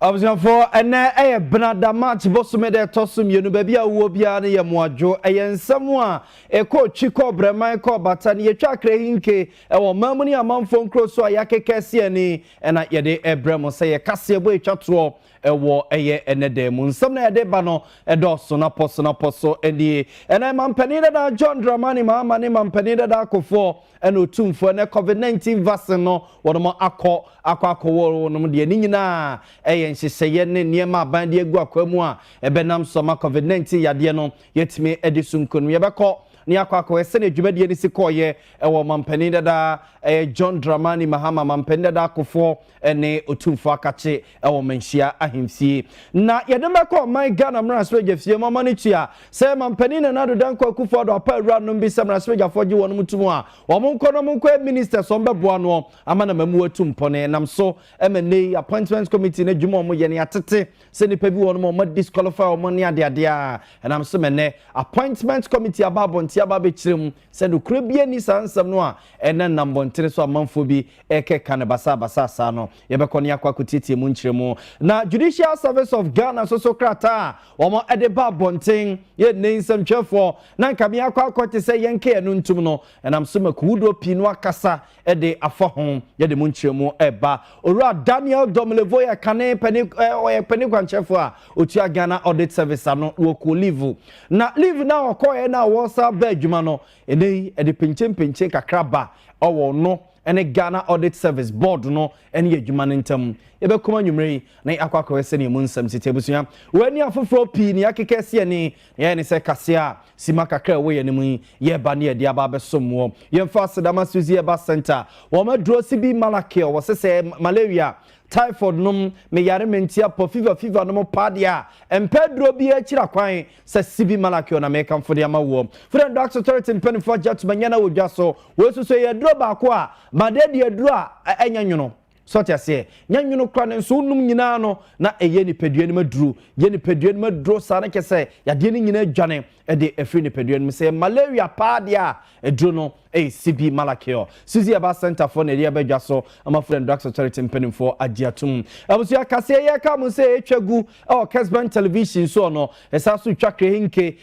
abusuafoɔ ɛnɛ ɛyɛ benada march bosome dɛ ɛtɔ so mmienu baabi a wowɔ biara no yɛ mmoadwo ɛyɛ nsɛm a ɛkɔ twi kɔ brɛman kɔ bata no yɛtwa akrɛ hinke ɛwɔ ɔman mu ne amanfoɔ nkuro so a yɛakekɛ si ani ɛna yɛde ɛbrɛ mo sɛ yɛkaseɛ bɔ ɛtwa toɔ Ɛwɔ ɛyɛ ɛnɛ da mu. Nsɛm na yɛde ba no ɛdɔɔso na pɔ so na pɔ so nie. Ɛnɛ mampanin dada John Dramani Mahama ne mampanin dada Akufoɔ ɛna otumfoɔ ɛnɛ COVID-19 vaccine no wɔnom akɔ akɔ akɔwɔ wɔnom deɛ ne nyinaa ɛyɛ nhyehyɛeɛ ne nneɛma aban de agu akwan mu a ɛbɛnam so ama COVID-19 yadeɛ no yɛtumi ɛde so nkonim yɛbɛkɔ ne akɔ akɔyɛ sɛdeɛ dwumadie no si kɔɔyɛ ɛwɔ mampanin dada ɛyɛ John Dramani Mahama mampanin dada Akufoɔ ne Otumfoɔ Akakye wɔ Manhyia Ahemfie. Na yɛde no bɛkɔ ɔman Ghana mmaransebadwafie ma ɔma no tua sɛ Mampanin Nana Addo Dankwa Akufo Addo apa awuranom bi sɛ mmaransebadwafoɔ gye wɔnom to mu a, wɔn nkɔ na wɔn nkɔyɛ ministers wɔn bɛboa noɔ ama no ama mu atu mpɔn. Ɛnam so ma nnɛ yi appointments committee no adwuma a wɔyɛ no yɛatete sɛ nnipa bi wɔnom a wɔn disqualify wɔn ne adeadeɛ a ɛnam so ma nnɛ appointments committee aba abɔnten aba abɛkyerɛ mu Sɛ nokorɛ biara nni saa nsɛm no a ɛnna nnam mmɔntene so amanfoɔ bi rekeka no basaabasaa saa no, yɛbɛkɔ na yɛakɔ akɔtiatia mu nkyerɛmu. Na Judicial Service of Ghana nso so krataa a wɔde ba abɔnten yɛ nnɛ yi nsɛmtwerɛfoɔ na anka meakɔ akɔte sɛ yɛnka yɛn ano ntom no, ɛnam so ma kuwudoɔ pii no akasa de afa ho yɛde mu nkyerɛmu ɛba owura daniel domlevoyɛ kane pɛne ɔyɛ pɛne kwankyɛfo a otua ghana audit service ano wɔkɔ leave na leave na ɔkɔɛ na wɔsa ba adwuma no ɛnɛ yi ɛde penkyempenkye kakra ba ɔwɔ no ɛne ghana audit service board no ɛne yɛ adwuma no ntam yɛbɛkɔm anwummerɛ yi na akɔ akɔyɛ sɛdeɛ mu nsɛm siti abusua wɔani afoforɔ pii ne akeka si ani Yɛn ne sɛ kaseɛ a sima kakra a ɛwɔ yɛn anim yi, yɛreba ne yɛde aba abɛsom woɔ. Yɛmfa aseda ma Suzy Herbal Centre, wɔn aduro CB Malacure, wɔse sɛ malaria, typhoid nom, meyare mantia pɔ, fever fever nom paa deɛ a, ɛmpɛ aduro biara akyira kwan sɛ CB Malacure na mekamfo de ama woɔ. Food and Drugs Authority mpanimfoɔ agye atom anya no wɔ dwa so. Wei nso so ɛyɛ aduro baako a, ma deɛ deɛ aduro a ɛnyɛ nwono. So ɔte aseɛ? Nyɛ nwono kora nanso wonom nyinaa no na ɛyɛ nipadua no mu aduro. Yɛ nipadua no mu aduro saa no kyɛ sɛ yadeɛ no nyinaa dwane ɛde ɛfiri nipadua no mu. Sɛ yɛ malaria paa deɛ a, aduro no ɛyɛ CB Malacure. Suzy Aba Center foɔ na ɛde ɛbɛ dwa so ama Food and Drugs Authority mpanimfoɔ agye atom. Abusua kaseɛ yɛ ka mu sɛ ɛtwa gu ɛwɔ Kesben Television soɔ no. Ɛsan so twa Krehenke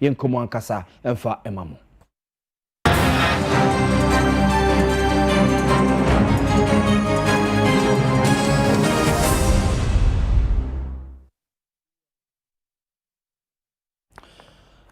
Yɛn nkɔmmɔ ankasa mfa ma mo.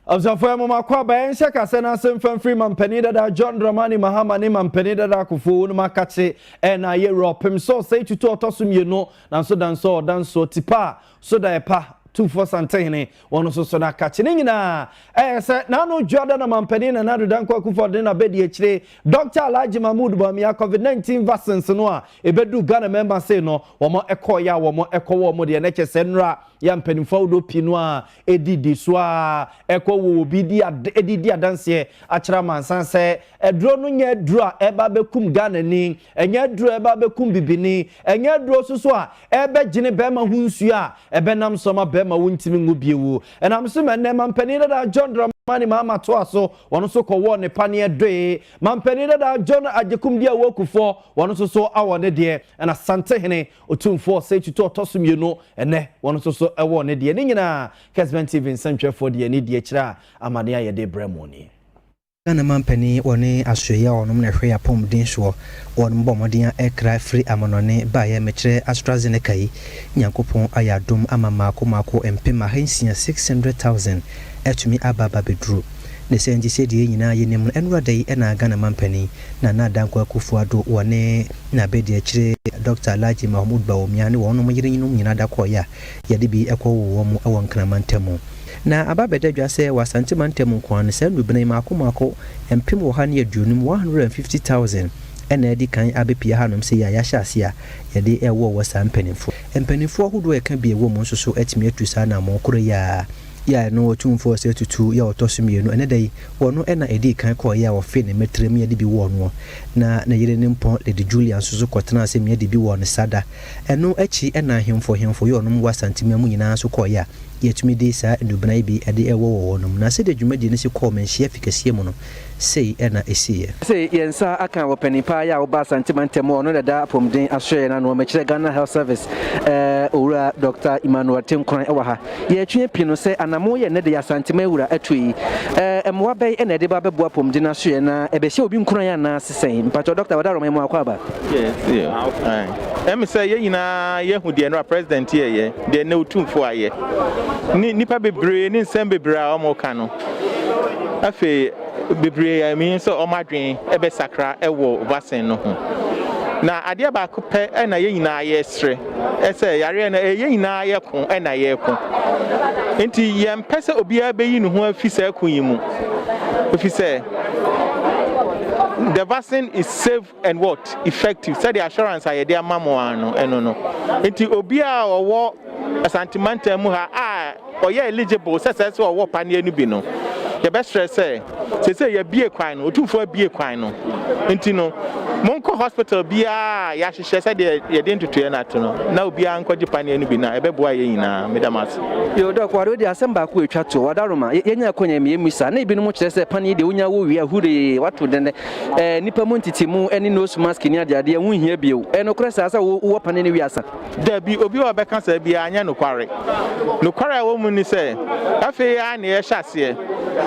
ɔsɔfo ya mɔmɔ akɔ aba yɛn nhyɛ kasa na asɛm fɛn firi mampanin dada john dramani mahama ne mampanin dada akofo wɔn mu akakye ɛna ayɛ wura ɔpem sɛ ɔsɛe tutu ɔtɔ so mmienu nanso danso ɔdanso tipa a Sodaeɛ pa, Tufoɔ Santehene, wɔn nso so na kakye. Ne nyinaa ɛyɛ sɛ n'ano dwo ada na Mampanin Nana Addo Dankwa Akufo-Addo ne n'abadiakyire Dɔkta Alhaji Mahmood Bawumia Covid-19 vaccines no a ɛbɛduu Ghana mmarima sei no, wɔn kɔeɛ a wɔn kɔwɔɔ wɔn deɛ na kyerɛ sɛ nnora yi a mpanimfoɔ ahodoɔ pii no ara ɛdidi so ara ɛkɔ wɔ obi di ad, ɛde di adanseɛ akyerɛ amansan sɛ Aduro no nyɛ aduro a ɛreba abɛkum Ghanani, ɛnyɛ aduro a ɛreba abɛkum bibini, ɛnyɛ aduro nso so a ɛrebɛgyene barima ho nsuo a ɛbɛnam so ama barima wontumi nwo bio. Ɛnam so ma ɛnnɛ Manpanin Dadaa John Dramani Mahama toa so, ɔno nso kɔwɔɔ ne paneɛ Doe. Manpanin Dadaa John Agyekumdi Awuo Kufuor, ɔno nso so awɔ ne deɛ, ɛna Asantehene Otumfoɔ Osei Tutu a ɔtɔ so mmienu, ɛnnɛ ɔno nso so wɔ ne deɛ. Ne nyinaa, Kesben TV nsɛntwerɛfoɔ de yɛn ani die kyerɛ a, amaneɛ a yɛde rebrɛ mo nie. Ghana mampanin wɔ ne asoɛeɛ a ɔnom na ɛhwɛ yɛ apɔmuden soɔ wɔ ɔnom bɔ mmɔden a ɛkra firi amanɔne baeɛ mekyerɛ AstraZeneca yi Nyankopɔn ayɛ adom ama mmaako mmaako mpem ahansia six hundred thousand atumi aba aba abɛduru ne saa nti sɛdeɛ yɛn nyinaa yɛnim no ɛnora da yi na Ghana mampanin Nana Dankwa Akuffo Addo wɔ ne n'abadiakyire Doctor Alhaji Mahmood Bawumia ne wɔnom yerenom nyinaa da kɔeɛ a Yɛde bi kɔwowɔ mu wɔ Nkran mantam mu. Na aba abɛda dwa sɛ wɔ Asante mantam mu nko ara no, saa nnubene mmaako mmaako mpem ɔha ne aduonum, 150,000, na adi kan abɛpue hanom sei a yɛahyɛ ase a yɛde rewowɔ saa mpanimfoɔ yi. Mpanimfoɔ ahodoɔ a ɛka bi a ɛwɔ mu nso so atumi atu saa anammɔn korɔ yi ara yɛ a ɛno Otumfoɔ Osei Tutu yɛ a ɔtɔ so mmienu. Ɛnnɛ da yi, ɔno na ɛdii kan kɔeɛ a ɔfee ne mmatirem Yɛde bi wowɔɔ noɔ, na ne yere Nempɔn Lady Julia nso so kɔtenaa ase Yɛde bi wowɔɔ no saa da Ɛno akyi na ahemfo hemfo yɔɔnom wɔ Asanteman mu nyinaa nso kɔɔeɛ a yɛtumi de saa nnubena yi bi de wɔ wɔ hɔnom. Na sɛdeɛ dwumadie no si kɔɔ Manhyia Fi kɛseɛ mu no, sei na ɛsiiɛ. Sɛ yɛn nsa aka wɔ panin paa yɛ a ɔba Asante mantam hɔ a ɔno na ɛda apɔmuden asoɛeɛ no ano, mekyerɛ Ghana Health Service Owura Dɔkta Emmanuel Tenkoran wɔ ha. Yɛretwe api no sɛ anammɔn yi a ɛnnɛ da yi Asantema awura atu yi, ɛɛ mmoa bɛn na ɛde ba bɛboa apɔmuden asoɛe, na ɛbɛhyɛ obi nkuran anaase sɛn? Mpakyɛw, Dɔkta Wadaroma, yɛ mo akwaaba. Yes, yeah, how fine. Ɛm sɛ yɛn nyinaa yɛahu deɛ nnora President yɛɛyɛ, deɛ nnɛ Otumfoɔ ayɛ, ne nnipa bebree ne nsɛm bebree a wɔreka no. Afei bebree a menim sɛ wɔn adwene bɛsakra wɔ vaccine no ho. Na adeɛ baako pɛ na yɛn nyinaa yɛresrɛ, Sɛ yareɛ no yɛn nyinaa yɛ ko na yɛreko. Nti yɛmpɛ sɛ obiara bɛyi ne ho afi saa ko yi mu. Ɛfiri sɛ the vaccine is safe and what? Effective. Sɛdeɛ assurance a yɛde ama mo ara no, ɛno no. Nti obiara a ɔwɔ Asante mantam mu ha a ɔyɛ eligible sɛ sɛ sɛ ɔwɔ paneɛ no bi no, yɛbɛsrɛ sɛ seesei yɛabue kwan no, Otumfoɔ abue kwan no nti no, monkɔ hospital biara a yɛahyehyɛ sɛdeɛ yɛde ntotoeɛ no ato no na obiara nkɔgye paneɛ no bi na ɛbɛboa yɛn nyinaa. Meda mo ase. Yoo Doc, ware wode asɛm baako a ɛtwa toɔ, Wadaroma, yɛ, yɛanya akwannya mmie mu sa, na ebinom kyerɛ sɛ paneɛ deɛ wonya wowie a, huree, wato dɛn dɛ, ɛɛ, nnipa mu ntetemu ne nose mask ne adeadeɛ, ɛho nhia bio. Ɛyɛ nokorɛ saa sɛ wo, wowɔ paneɛ no wie asa? Dabi, obiara a ɔbɛka saa biara nyɛ nokware. Nokware a ɛwɔ mu ne sɛ, afei ara na yɛrehyɛ aseɛ.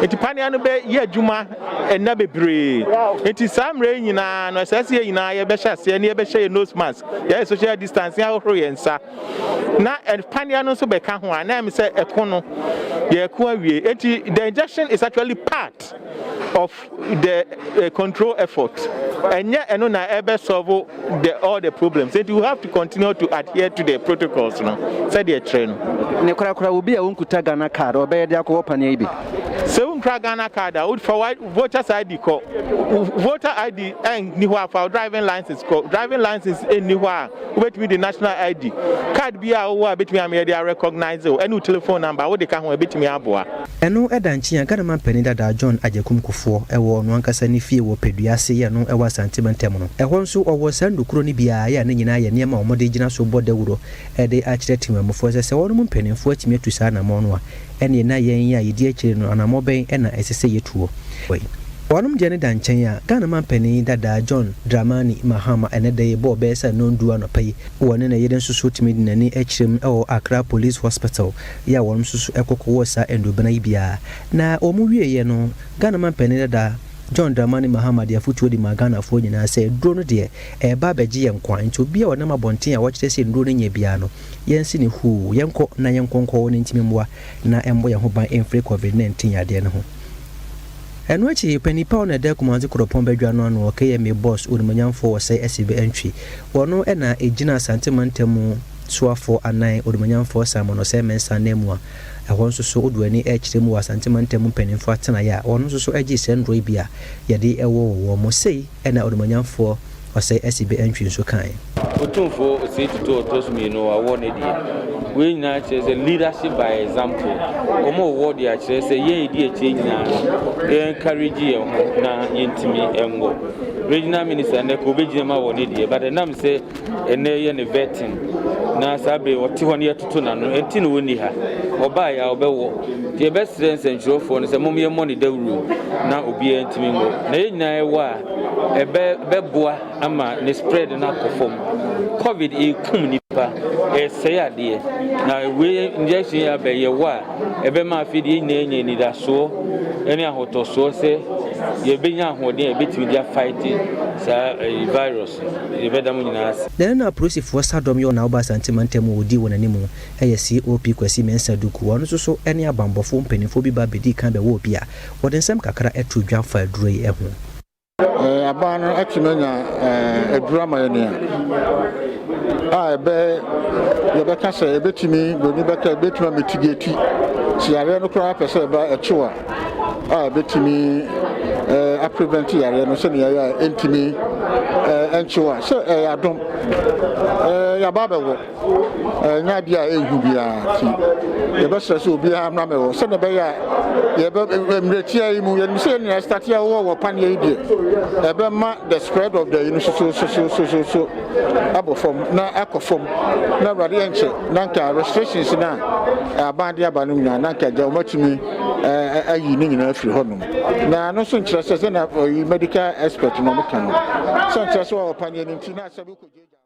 Enti pania no bɛyɛ adwuma nna bebree. Enti saa mmerɛ yi nyinaa no, ɛsɛ sɛ yɛn nyinaa yɛbɛhyɛ aseɛ na yɛbɛhyɛ yɛn nose mask, yɛayɛ social distancing, ahohoro yɛn nsa. Na pania no nso bɛka ho a, na ɛyɛ me sɛ ɛko no, yɛreko awie. Enti the injection is actually part of. the uh, control effort ɛnyɛ ɛno na ɛbɛ solve the all the problems nti you have to continue to adhere to the protocols no sɛdeɛ ɛkyerɛ no. ne korakora obi a wɔnkuta ghana card ɔbɛyɛ de akɔwɔ paneɛ yi bi. sɛ wonkura ghana card a wofa voters id kɔ voter id ɛnni hɔ a fa driving license kɔ driving license ɛnni hɔ a wobɛtumi de national id card bi a wowɔ a bɛtumi ameyɛ de arecognize wo ɛne wo telephone number wode ka ho a ɛbɛtumi aboa. Ɛno da nkyen a Ghana manpanin dadaa John Agyekum Kufuor wɔ ɔno ankasa ne fie wɔ Padua ase yɛ no wɔ Asante mantam no. Ɛhɔ nso ɔwɔ saa nnukuro no bi ara yɛ a ne nyinaa yɛ nneɛma a wɔde gyina so bɔ dawuro de akyerɛ temanmufoɔ sɛ sɛ wɔnom mpaninfoɔ atumi atu saa anamɔ no a ɛneɛ na yɛn yi a yɛdi akyire no anamɔ bɛn na ɛsɛ sɛ yɛtuo. Wɔnom deɛ no da nkyɛn a Ghana manpanin dadaa John Dramani Mahama ɛnɛ da yi bɔɔ bɛyɛ sɛ nnɔn du anɔpa yi wɔ ne ne yere nso so tumi de n'ani kyerɛm wɔ Accra Police Hospital yɛ a wɔnom nso so ɛkɔkɔ wɔ saa Ndobena yi bia. Na wɔnom wieeɛ no, Ghana Manpanin dada, John Dramani Mahama de afotuo de maa Ghanafoɔ nyinaa sɛ aduro no deɛ, ɛreba abɛgye yɛn nkwa, nti obiara a ɔnam abɔnten a wɔkyerɛ sɛ nnuro no nyɛ biara no, yɛnse no huu, yɛnkɔ na yɛnkɔ nkɔ wɔn ntini mmoa na ɛmmɔ yɛn ho ban mfiri Covid 19 yadeɛ no ho. Ɛno akyi, Ɔpanin pa a ɔno na ɛda Kumase Koropɔn badwa no ano wɔ KMA Boss Onimuonyamfoɔ Wɔsɛe Asibe Antwi, wɔno na ɛgyinaa Asante Mantam mu, Soafoɔ anan, Onimuonyamfoɔ Simon Osei Mensah ananmu a ɛhɔ nso so wodo ani rekyerɛ mu wɔ Asante Mantam mpaninfoɔ atenaeɛ a wɔn nso so gyee sɛ nnuro yi bi a yɛde wɔ wɔ wɔn mu sei ɛna Onimuonyamfoɔ Osei Asibe Antwi nso kaeɛ. Otumfoɔ Osei Tutu ɔtɔ so mmienu wɔ award no adie. Wei nyinaa kyerɛ sɛ leadership by example. Wɔn award yi akyerɛ sɛ yɛn a yɛdi akyire nyinaa no yɛ encourage yɛn ho na yɛntumi nwɔ. Regional minister nnɛ ka ɔbɛgyina mu awɔ n'adie but ɛnam sɛ Ɛnnɛ yɛ ne vetting na saa bere ɔte hɔ no yɛtoto n'ano ɛnti na ɔnni ha. Ɔbaeɛ a ɔbɛwɔ. Nti yɛbɛsrɛ nsɛntwerɛfoɔ no sɛ mom yɛmmɔ no dawuro na obiara ntumi nwɔ. Na yɛn nyinaa yɛwɔ a ɛbɛ bɛboa ama ne spread no akɔ fam. Covid ɛrekum nnipa, ɛresɛe adeɛ. Na wei injection yi aba yi yɛwɔ a ɛbɛma afei deɛ yɛn nyinaa anya anidasoɔ ne ahotɔsoɔ sɛ yɛbɛnya ahoɔden a yɛbɛtumi de afight saa virus. Yɛbɛda mo nyinaa ase. Dɛn na apolisifoɔ sadɔm yɛ wɔ Naoba Asante mantam mu a wɔdii wɔn anim? Ɛyɛ COP Kwasi Mensah Duku a ɔno nso so ne abanbɔfoɔ mpanimfoɔ bi ba bɛdii kan bɛwɔɔ bi a wɔde nsɛm kakra too dwa faa aduro yi ho. Aban no atumi anya aduro ama yɛn a, a ɛbɛ, yɛbɛka sɛ ɛbɛtumi, buroni bɛka, ɛbɛtumi amitigeti sɛ yareɛ no koraa pɛ sɛ ɛba, ɛkyew a. a ɛbɛtumi aprevent yareɛ no sɛnea ɛyɛ a ɛntumi nkyew a sɛ ɛyɛ adom yɛaba bɛwɔ ɛnyɛ adeɛ a ɛnhu biara nti yɛbɛsrɛ sɛ obiara mmra mɛwɔ sɛnea ɛbɛyɛ a yɛbɛ mmerɛtia yi mu yɛnim sɛ yɛn nyinaa start yɛwɔ wɔ paneɛ yi deɛ ɛbɛma the spread of the yi no sosososososo abɔ fam na akɔ fam na awurade yɛnkyɛ na nka restrictions no a aban de aba no nyinaa na nka agya wɔmatumi ayi ne nyinaa afiri hɔnom. Na ɛno nso nkyerɛ sɛ sɛ na ɔyi medical expert na ɔmo ka no sɛ nkyerɛ sɛ ɔwɔ paneɛ no nti na asɛ bi kɔ gyagya.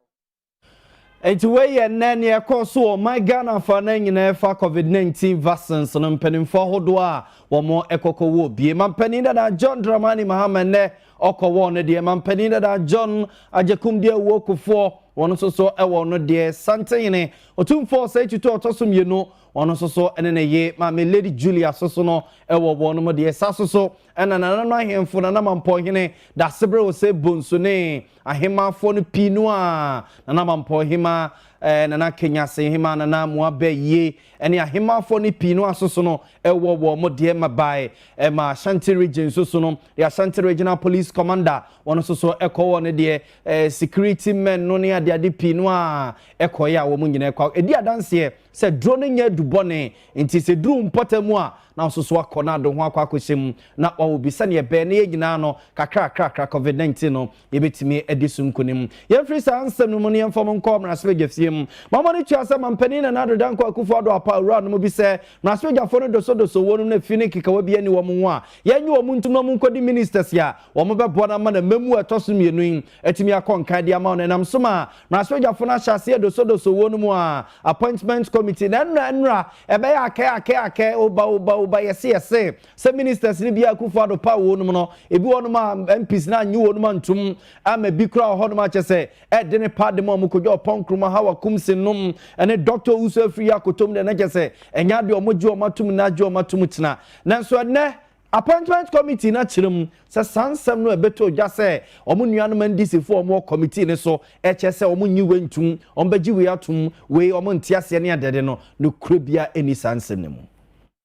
Nti wei yɛ nnɛ nea ɛkɔɔ so wɔ ɔman Ghana fa no nyinaa ɛfa covid 19 vaccines no mpanimfoɔ ahodoɔ a wɔn ɛkɔkɔ wɔ bie. Mampanin dada John Dramani Mahama nnɛ ɔkɔ wɔ no deɛ. Mampanin dada John Agyekumdeɛ Owuo Kufoɔ wɔn nso so ɛwɔ no deɛ. Santehene Otumfoɔ Osei Tutu a ɔtɔ so mmienu Ɔno nso so ne ne ye maame Lady Julia so so no wɔ wɔnom deɛ sa so so na nana no ahemfo nana mampɔhene dasebere wɔ sɛ bonsu ne ahemafoɔ no pii no a nana mampɔ hema eh, nana kenyase hema nana mua bɛ yie ne ahemafoɔ no pii no aso so no wɔ wɔn mo deɛ ma bae eh, ma Ashanti region so so no the Ashanti regional police commander wɔn nso so ɛkɔ wɔ ne deɛ eh, security men no ne adeade pii no a ɛkɔɛ a wɔn nyinaa kɔ ɛdi adanseɛ Sɛ duro no nyɛ adu bɔne nti, sɛ eduru wo mpɔtam a, na wososo akɔ na ade ho akɔ akɔhyɛ mu, na wawo bi. Sɛnea ɛbɛyɛ na yɛn nyinaa no, kakrakrakra, Covid nineteen no, yɛbɛtumi adi so nkonim. Yɛmfiri saa nsɛm no mu na yɛmfa mu nkɔ mmarahyɛbadwafie mu. Mammɔ no tua sɛ Mampanin Nana Addo Dankwa Akuffo Addo apa awura no mu bi sɛ, mmarahyɛbadwafoɔ no dosodoso wɔnom na fie no nkekawa biara nni wɔn ho a, yɛnnye wɔn ntom na wɔnkɔdi ministers a wɔbɛboa no ama no mmamu a ɛtɔ so mmienu yi. atumi akɔ nkan de ama wɔn. Ɛnam so ma mmarahyɛbadwafo no ahyɛ aseɛ dosodoso wɔ no mu a, appointment committee, na ɛnora ɛnora ɛbɛyɛ akɛ akɛ akɛ, oba oba oba, yɛse yɛse, sɛ ministers no bi a Akufo Addo paw wɔ no mu no, ebi wɔ no mu a MPs no annye wɔ no mu antom, ama bi koraa wɔ hɔ nom a kyerɛ sɛ ɛde ne pa de ma wɔn, Kojo Oppong Nkrumah, Hawa Kumse Nnom, ne Doctor Owusu Afriyie Akotom deɛ na kyerɛ sɛ ɛnyɛ adeɛ wɔn gye wɔn atom nna gye wɔn atom tena. Nanso ɛnnɛ, Appointment Committee no akyerɛ mu sɛ saa nsɛm no a ɛbɛtɔ dwa sɛ wɔn nuanom NDC foɔ a wɔwɔ committee no so rekyerɛ sɛ wɔn nnye wei ntom, wɔn bɛgye wei atom, wei wɔn nte aseɛ ne adeade no, nokorɛ biara nni saa nsɛm no mu.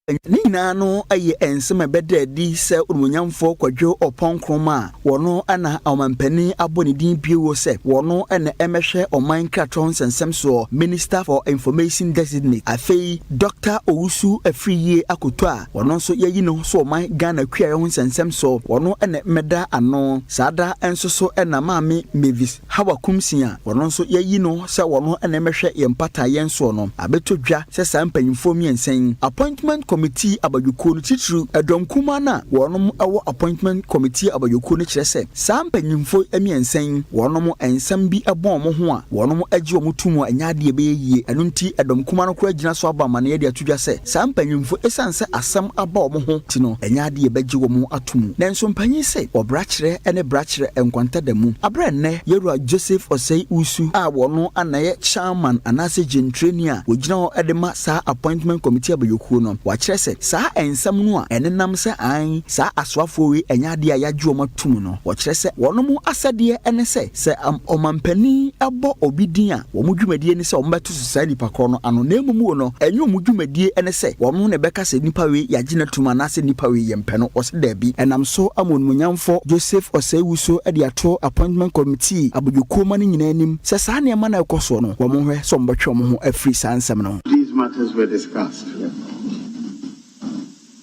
Ne nyinaa no yɛ nsɛm a ɛbɛda adi sɛ Onimuonyamfoɔ Kwadwo Ɔpɔn Nkrumah a wɔno na Ɔmanpanin abɔ ne din bio sɛ wɔno na ɛmɛhwɛ Ɔman Nkratɔ Nsɛnsɛm soɔ, Minister for Information Designate, afei Doctor Owusu Afriyie akoto a Ɔno nso yɛayi no so ɔman Ghana kuayɛ ho nsɛnsɛm so. Ɔno na mmɛda ano saa da nso so na Maame Mavis Hawa Kumsing a ɔno nso yɛayi no sɛ ɔno na mmɛhwɛ yɛn mpata yɛn soɔ no abɛtɔ dwa sɛ saa mpanyimfoɔ mmiɛnsa yi Appointment Committee abadwokuo no titiriw ɛdɔm kumaa no a wɔnom wɔ Appointment Committee abadwokuo no kyerɛ sɛ saa mpanyimfoɔ mmiɛnsa yi wɔnom nsɛm bi bɔ wɔn ho a wɔnom gye wɔn tom a ɛnyɛ adeɛ ɛbɛyɛ yie ɛno nti ɛdɔm kumaa no koraa gyina so abɔ amanneɛ de ato dwa sɛ Saa mpanyimfo yi, esiane sɛ asɛm aba wɔn ho nti no, ɛnyɛ ade a yebegye wɔn ato mu. Nanso mpanyin se wɔbra kyerɛ ne bra kyerɛ nkwanta da mu. Bere a nnɛ Yewura Joseph Osei Usu a ɔno ara na ɛyɛ Chairman anaase Gyentreni a ogyina hɔ de ma saa Appointment Committee Abayokuo no, wakyerɛ sɛ saa nsɛm no a ɛnenam sɛ aane saa asoafoɔ wei ɛnyɛ adeɛ a yɛagye wɔn ato mu no, wɔkyerɛ sɛ wɔnom asɛdeɛ ne sɛ sɛ Ɔmanpanin bɔ obi din a wɔn dwumadie ne sɛ wɔbɛto susu saa nipa korɔ no ano, na mmom o no, ɛnyɛ wɔn dwumadie ɛne sɛ wɔn na ɛbɛka sɛ nipa wei yɛagye no atum anaasɛ nipa wei yɛmpɛ no, wɔse daabi. Ɛnam so ama Onimuonyamfoɔ Joseph Osei-Wusu de ato Appointment Committee abodwokuo ma no nyinaa anim sɛ saa nneɛma no a ɛrekɔ soɔ no, wɔn nhwɛ sɛ wɔbɛtwe wɔn ho afiri saa nsɛm no ho. These matters were discussed.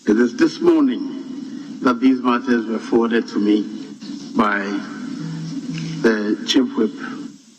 It is this morning that these matters were forwarded to me by the Chief Whip.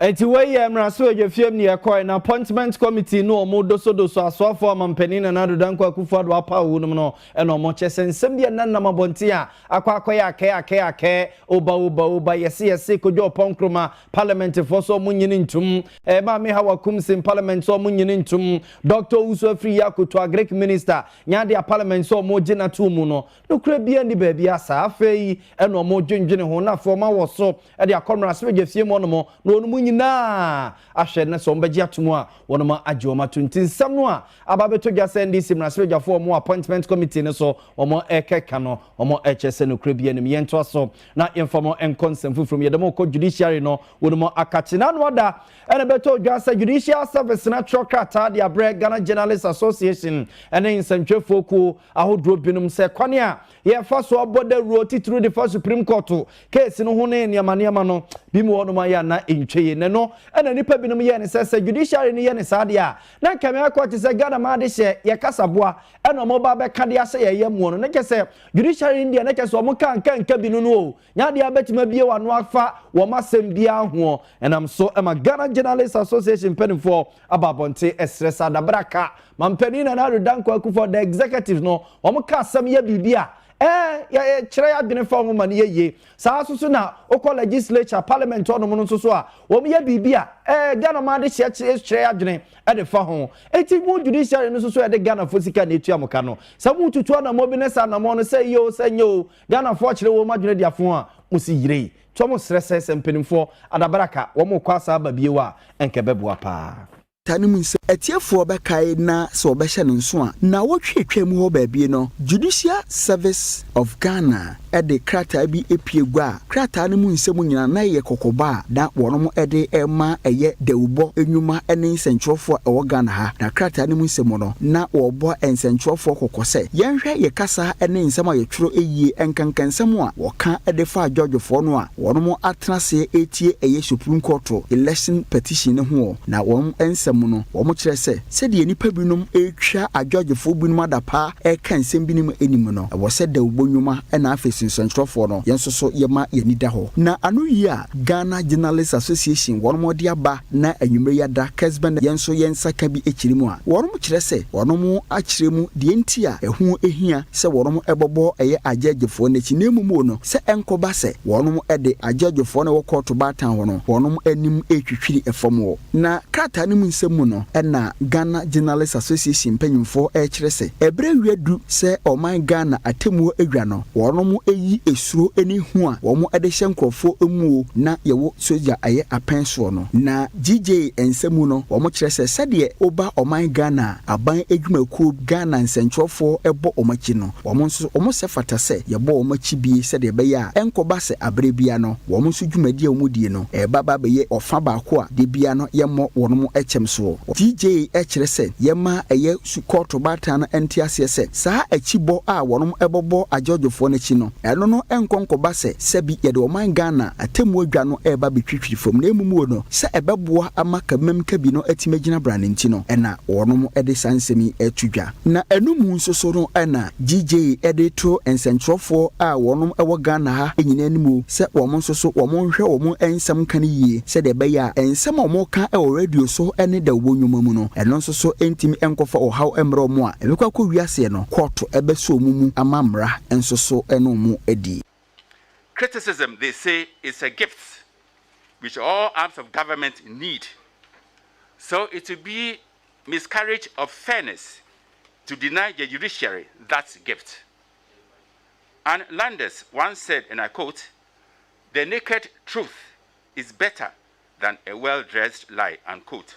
Enti wei yɛ mmaraso adwafiam ne ɛkɔe, na appointment committee ne wɔn dosodoso asoafo a Ɔmampanin Nana Addo Dankwa Akufo-Addo apaw wɔ nom no na wɔn kyɛ sɛ nsɛm bi a ɛnanam abɔnten a akɔ akɔyɛ akɛɛ akɛɛ akɛɛ, oba oba oba, yɛse yɛse, Kojo Oppong Nkrumah, Parliament foɔ sɛ wɔn nnye ntom, eh, Maame Hawa Koomson, Parliament sɛ wɔn nnye ntom, Doctor Owusu Afriyie Akoto, Agric Minister, Nyaadia, Parliament sɛ wɔn gye no atom no, Nokorɛ biara nni baabi a saa. Afei ɛna wɔn dwendwene ho, na afei wɔn awɔ so de akɔ mmaransebadwafie mu hɔnom, na wɔn nyinaa ahwɛ na sɛ wɔn bɛgye atom a, wɔnom agye wɔn ato. Nti nsɛm no a aba abɛtɔ dwa sɛ NDC mmaransebadwafoɔ a wɔn wɔ Appointment Committee no so wɔn ɛrekɛka no, wɔn ɛrekyerɛ sɛ nokorɛ biara nnim. Yɛntoa so na yɛmfa mo nkɔ nsɛm foforɔ mu. Yɛde mo rekɔ Judiciary no wɔnom akakye. Na ano ada ɛna ɛbɛtɔɔ dwa sɛ Judicial Service no atwerɛ krataa de abrɛ Ghana Journalists Association ne Nsɛntwerɛfoɔ Kuo, ahodoɔ binom sɛ kwane a yɛfa so bɔ dawuro titiriw de fa Supreme Court keesi no ho ne nneɛma nneɛma no bi mu hɔnom ayɛ a na ɛntwa yie. Na ɛno na nnipa binom yɛɛ no sɛ sɛ judiciary no yɛ no saa deɛ a na nka mmeaeɛ kɔ te sɛ Ghana maa de hyɛ yɛn kasaboa ɛna wɔba abɛka de ahyɛ yɛn yam mu no. Na kyɛ sɛ judiciary no deɛ na kyɛ sɛ wɔka nka nka bi no no o Nya deɛ wobɛtumi abue w'ano afa wɔn asɛm biara ho ɛnam so ma Ghana Journalists Association mpanimfoɔ aba abɔnten ɛsrɛ saa dabraka ma mpanin Nana Addo Dankwa Akuffo the executive no wɔn ka asɛm yɛ biribi a ɛɛ yɛ yɛ kyerɛ yɛ adwene fa ho ma no yɛ yie saa nso so na wokɔ legislature parliament hɔnom no nso so a wɔn yɛ biribi a ɛɛ Ghana ɔman de hyɛ kyerɛ kyerɛ yɛ adwene ɛde fa ho eti mo judiciary no nso so yɛde Ghana fo sika na etua mo ka no sɛ mo tutu anamɔ bi ne saa anamɔ no sɛ yie o sɛ nyɛ o Ghanafoɔ kyerɛ wɔn adwene de afo a wɔsi yerei to wɔn srɛ sɛ sɛ mpanimfoɔ adabaraka wɔn rekɔ asa aba bio a ɛnka ɛbɛboa paa. Ta no mu sɛ atiefoɔ bɛkae na sɛ wɔbɛhyɛ no nso a. Nnawɔtwe a ɛtwaam hɔ baabie no, Judicial Service of Ghana de krataa bi pue gua a krataa no mu nsɛm nyinaa na ɛyɛ kɔkɔbɔ a na wɔde rema ɛyɛ dawubɔ nnwuma ne nsɛnkyerɛwfoɔ a ɛwɔ Ghana ha. Na krataa no mu nsɛm no. na wɔbɔ nsɛnkyerɛwfo kɔkɔ sɛ, Yɛnhwɛ yɛn kasa ne nsɛm a yɛtwerɛ yie, nkanka nsɛm a wɔka de faa Georgefoɔ no a wɔnom atena aseɛ retie ɛyɛ Supreme Court Election Petition no ho ɔ. Na wɔn nsɛm mu no, wɔn kyerɛ sɛ, sɛdeɛ nnipa binom retwa a Georgefoɔ binom adapaa reka nsɛm binom anim no, ɛwɔ sɛ dawubɔ nwuma na afei nso nsɛnkyerɛwfoɔ no, yɛn nso so yɛma yɛn ani da hɔ. Na ano yi a Ghana Journalists Association wɔnom de aba, Na anwumerɛ yi ada kɛsbɛ na yɛn nso yɛn nsa ka bi akyire mu a, wɔnom kyerɛ sɛ wɔnom akyerɛ mu deɛ nti a ɛho hia sɛ wɔnom bɔbɔ ɛyɛ agyɛgyefoɔ no akyi, na mmom o no sɛ ɛnkɔba sɛ wɔnom de agyɛgyefoɔ no a ɛwɔ kɔɔto baatan hɔ no wɔnom anim retwitwiri fam hɔ. Na krataa no mu nsɛm mu no na Ghana Journalists Association mpanyimfoɔ rekyerɛ sɛ ɛberɛ awie adu sɛ ɔman Ghana atemmuo adwa no wɔnom yi suro ne hu a wɔn de hyɛ nkorɔfoɔ mu o na yɛwɔ sogya ɛyɛ apɛn soɔ no na GJ nsa mu no wɔn kyerɛ sɛ sɛdeɛ woba ɔman Ghana a aban adwumakuo Ghana nsɛnkyerɛfoɔ bɔ wɔn akyi no wɔn nso wɔn sɛ fata sɛ yɛbɔ wɔn akyi bie sɛdeɛ ɛbɛyɛ a ɛnkɔba sɛ aberɛ bia no wɔn nso dwumadie a wɔn die no ɛreba ba abɛyɛ ɔfa baako a da bia no yɛmmɔ wɔnom kyɛm soɔ GJ kyerɛ sɛ yɛma ɛyɛ Su kɔɔto baatan no nte aseɛ sɛ saa akyi bɔ a wɔnom bɔ bɔ agyɔɔgyefoɔ no akyi no, ɛno no nkɔ nkɔba sɛ sɛbi yɛde ɔman Ghana atɛmmuo dwa no reba abɛtwitwiri fam na mmom wɔ no sɛ ɛbɛboa ama Kabimam Kabi no atumi agyina bra no nti no na wɔnom de saa nsɛm yi reto dwa. Na ɛno mu nso so no na GJ de to nsɛnkyerɛwfoɔ a wɔnom wɔ Ghana ha nyinaa anim o sɛ wɔn nso so wɔn nhwɛ wɔn nsɛm ka no yie sɛdeɛ ɛbɛyɛ a nsɛm a wɔka wɔ radio so ne dawubɔ nnwoma mu no ɛno nso so ɛntumi nkɔfa ɔhaw mmrɛ wɔn a ɛbɛkɔ akɔ wi aseɛ no kɔɔto bɛsɔ wɔn mu ama mmara nso so ne wɔn adi. Criticism they say is a gift which all arms of government need so it will be miscarriage of fairness to deny the judiciary that gift and Landers once said and I quote, The naked truth is better than a well dressed lie unquote.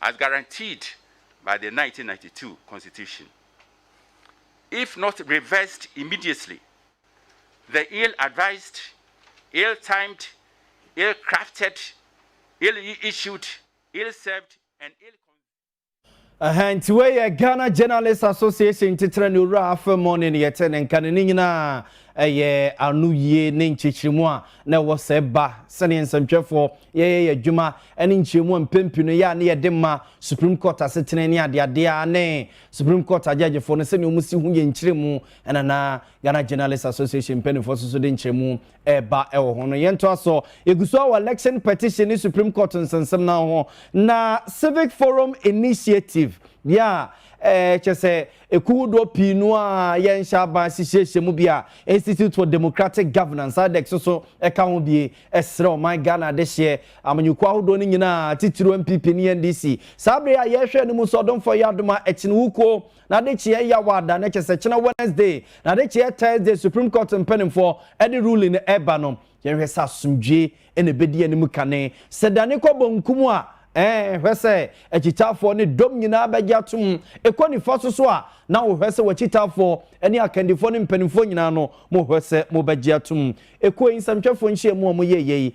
as guaranteed by the nineteen ninety two Constitution, if not reversed immediately, the ill-advised, ill-timed, ill-crafted, ill-issued, ill-served, and ill Ɛhɛn nti wei yɛ Ghana Journalists Association titire ne owura afei mo ne ne yɛte ne nka ne ne nyinaa ɛyɛ ano yie ne nkyekyeremu a na ɛwɔ sɛ ba sɛdeɛ nsɛntwerɛfoɔ yɛyɛ yɛ adwuma ɛne nkyerɛmu a mpɛn pii no ɛyɛ a na yɛde ma Supreme Court asetena ne adeade ara ne Supreme Court agyɛgyefo no sɛnea wɔn si ho yɛ nkyerɛmu ɛna na Ghana Journalists Association mpanyinfoɔ nso so de nkyerɛmu ɛreba ɛwɔ ho no. Yɛntoa so, yɛgu so a wɔ Election Petition ne Supreme Court nsɛnsɛm no ho na Civic Forum Initiative yɛ a ɛɛ kyɛ sɛ ɛku hodoɔ pii no a yɛnhyɛ aban ahyehyɛhyɛ mu bi a Institute for Democratic Governance IDEC so so ɛka ho bie ɛsrɛ ɔman Ghana adehyeɛ Amanyɔkuo ahodoɔ no nyinaa, titiriw NPP ne NDC. Saa bere yi a yɛrehwɛ no mu nso, Ɔdomfoɔ Yaa Domah Akyenwukuo, n'adekyeɛ yɛ awa da, na kyerɛ sɛ kyena Wednesday, n'adekyeɛ Thursday, Supreme Court mpanimfoɔ de ruling no reba no, yɛnhwɛ sɛ asomdwoeɛ na ɛbɛdi anim kane. Sɛ dane kɔ bonkum a, ɛɛ, hwɛ sɛ akyitaafoɔ ne dɔm nyinaa bɛgye atom. Ɛkɔ nifa so nso a, na wohwɛ sɛ w'akyitaafoɔ ne akandifoɔ ne mpanimfoɔ nyinaa no, mohwɛ sɛ mobɛgye atom. Ɛkuo yi nsɛmtwerɛfoɔ nhyiamu a wɔyɛeɛ yi,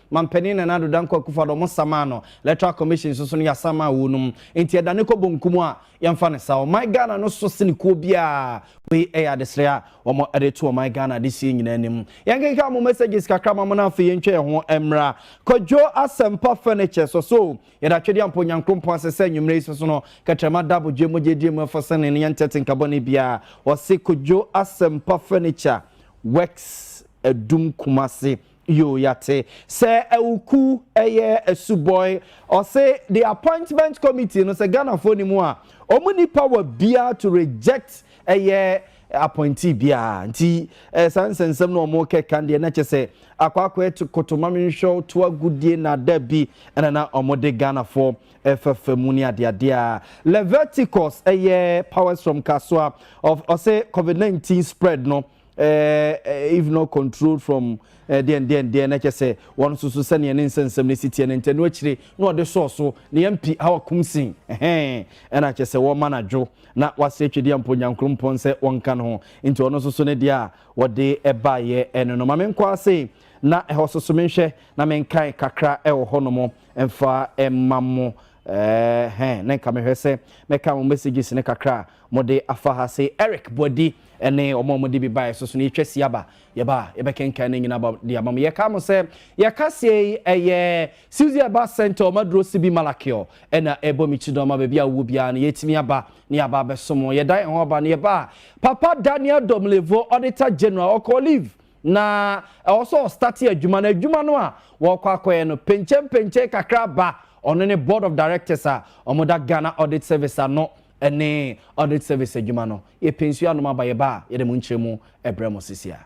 Manpanin Nana Addo Dankwa Akufo-Addo ɔmo sa maa no, Electoral Commission nso so no yɛasan maa wonom, nti ɛdane kɔ bonkum a yɛnfa no saa. Ɔman Ghana no so sene kuo biara, wei ɛyɛ adesrɛ a wɔn de to ɔman Ghana adehyeɛ nyinaa anim. Yɛnkenkan mo messages kakra ma mo na afei yɛntwa yɛn ho mmra Kwadwo Asɛmpa Furnitures wɔ so, yɛde atwedeɛ ampa Onyankrompɔn ase sɛ anwummerɛ yi so so no kɛtrɛma da abodwoɛ mogya adie mu ɛfɔ sɛnee no yɛntɛ tenka bɔne biara, wɔse Kwadwo Asɛmpa Furniture Works Adum Kumasi. Yoo yɛate sɛ awuku ɛyɛ asubɔe. Ɔse the appointment committee no sɛ Ghanafoɔ ni mu a ɔmo ni power biaa to reject ɛyɛ appointee biaa nti ɛɛ saa nsɛnsɛm no ɔmo kɛka deɛ na kyɛsɛ akɔ akɔɛ to koto ma menhwɛ wo to agodie na dabi ɛna na ɔmo de Ghanafoɔ ɛfɛfɛ mu ne adeadea Leviticus ɛyɛ powers from Kasoa of ɔse covid 19 spread no eh, if not controlled from eh, deɛn deɛn deɛn na kyɛ sɛ wɔn nso so sɛdeɛ ne nsɛnsɛm no si teɛ no ntɛno akyire na ɔde sɔɔ so na yɛmpi ha wakum sin ɛhɛn ɛna kyɛ sɛ wɔma no adwo na wase atwedeɛ mpo nyankoropɔn sɛ wɔnka no ho nti ɔno nso so ne deɛ a wɔde ɛbaeɛ ɛno no ma menkɔ ase na ɛhɔ so so menhwɛ na menkae kakra ɛwɔ hɔ nom ɛmfa ɛma mo Ɛɛhɛɛ na nka mehwɛ sɛ mɛka mo messages no kakra a mode afa ha se Eric Boadi ne wɔn a wɔde bi baeɛ so so no yɛtwa si aba yɛba a yɛbɛkenkan ne nyina de ama mo yɛka mo sɛ yɛka seɛ yi ɛyɛ Suzy Aba Center wɔn aduro Sibi Malakio ɛna ɛbɔ me ti dɔn ma baabi a wowɔ biara no yɛtumi aba ne yɛaba abɛso mo yɛda yɛn ho aba ne yɛba a Papa Daniel Domlevo Auditor General ɔkɔ leave Na ɛwɔ sɛ ɔstate adwuma no, adwuma no a wɔrekɔ akɔyɛ no, penkyenpenkyen kakra ba ɔno ne Board of Directors a wɔda Ghana Audit Service ano ne Audit Service adwuma no. Yɛpɛ nsuo anom aba, yɛba a, yɛde mo nkyerɛmu brɛ mo sisiaa.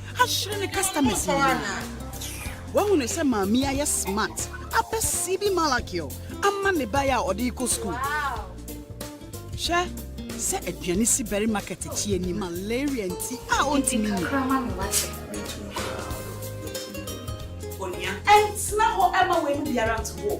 ahyere ne customers nyinaa. Wahu no sɛ maame ayɛ smart apɛ CB Malakio ama ne ba a ɔde rekɔ school. Hwɛ sɛ aduane si bɛre market akyi ani malaria nti a ɔntumi nyi. Onua, ɛntena hɔ ɛma wei mu biara nto hɔ.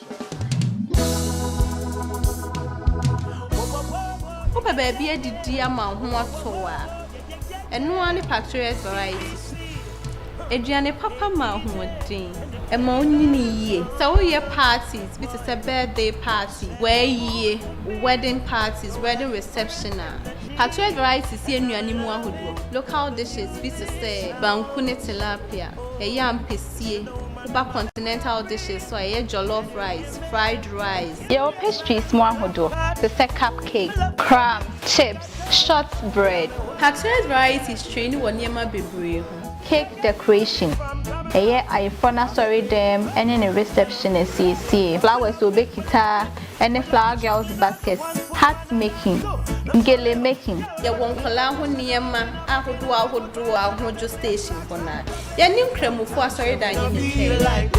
Wopɛ baabi adidi ama wo ho atɔ wo a, ɛno ara ne Patriots Variety so. Aduane papa ma ahoɔden, ɛma wonyini yie. Sɛ woyɛ parties bi te sɛ birthday party, w'ayie, wo wedding parties, wedding reception a, Patriots Varieties yɛ nnuane mu ahodoɔ, local dishes, bi te sɛ banku ne tilapia, ɛyɛ ampesie. Cuba continental dishes so a ɛyɛ jollof rice, fried rice. Yɛwɔ pastries mu ahodoɔ te sɛ cupcakes, crumbs, chips, short bread. Patrese Varieties traini wɔ nneɛma bebree ho. Cake decoration, ɛyɛ ayeforɔ no asɔredɛm ne ne reception asiesie. Flowers a ɔbɛkita ne flower girls baskets. Hat making, gele making. Yɛwɔ nkwadaa ho nneɛma ahodoɔ ahodoɔ ahodwo station hɔ no ara. Yɛne Nkramofo Asɔredan ne ne twɛn.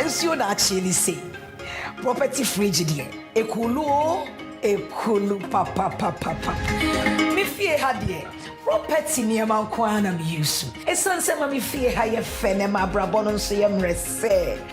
Nsuo daakyeɛ ni sei. Property fridge deɛ ɛkulu oo ɛkulu papapapapa. Me fie ha deɛ property nneɛma nko ara na me use. Ɛsiane sɛ ɛma me fie ha yɛ fɛ na ɛma abrabɔ no nso yɛ mmerɛsɛɛ.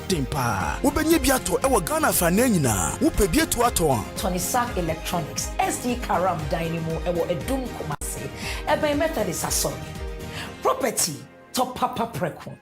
den paa. Wobɛnya bi atɔ wɔ Ghana afanan nyinaa. Wopɛ bi atu atɔ a. Tonisac Electronics, SD Karam dan no mu wɔ Adum Kumase, ɛbɛn Methodist Asɔre. Property tɔ papa prɛko.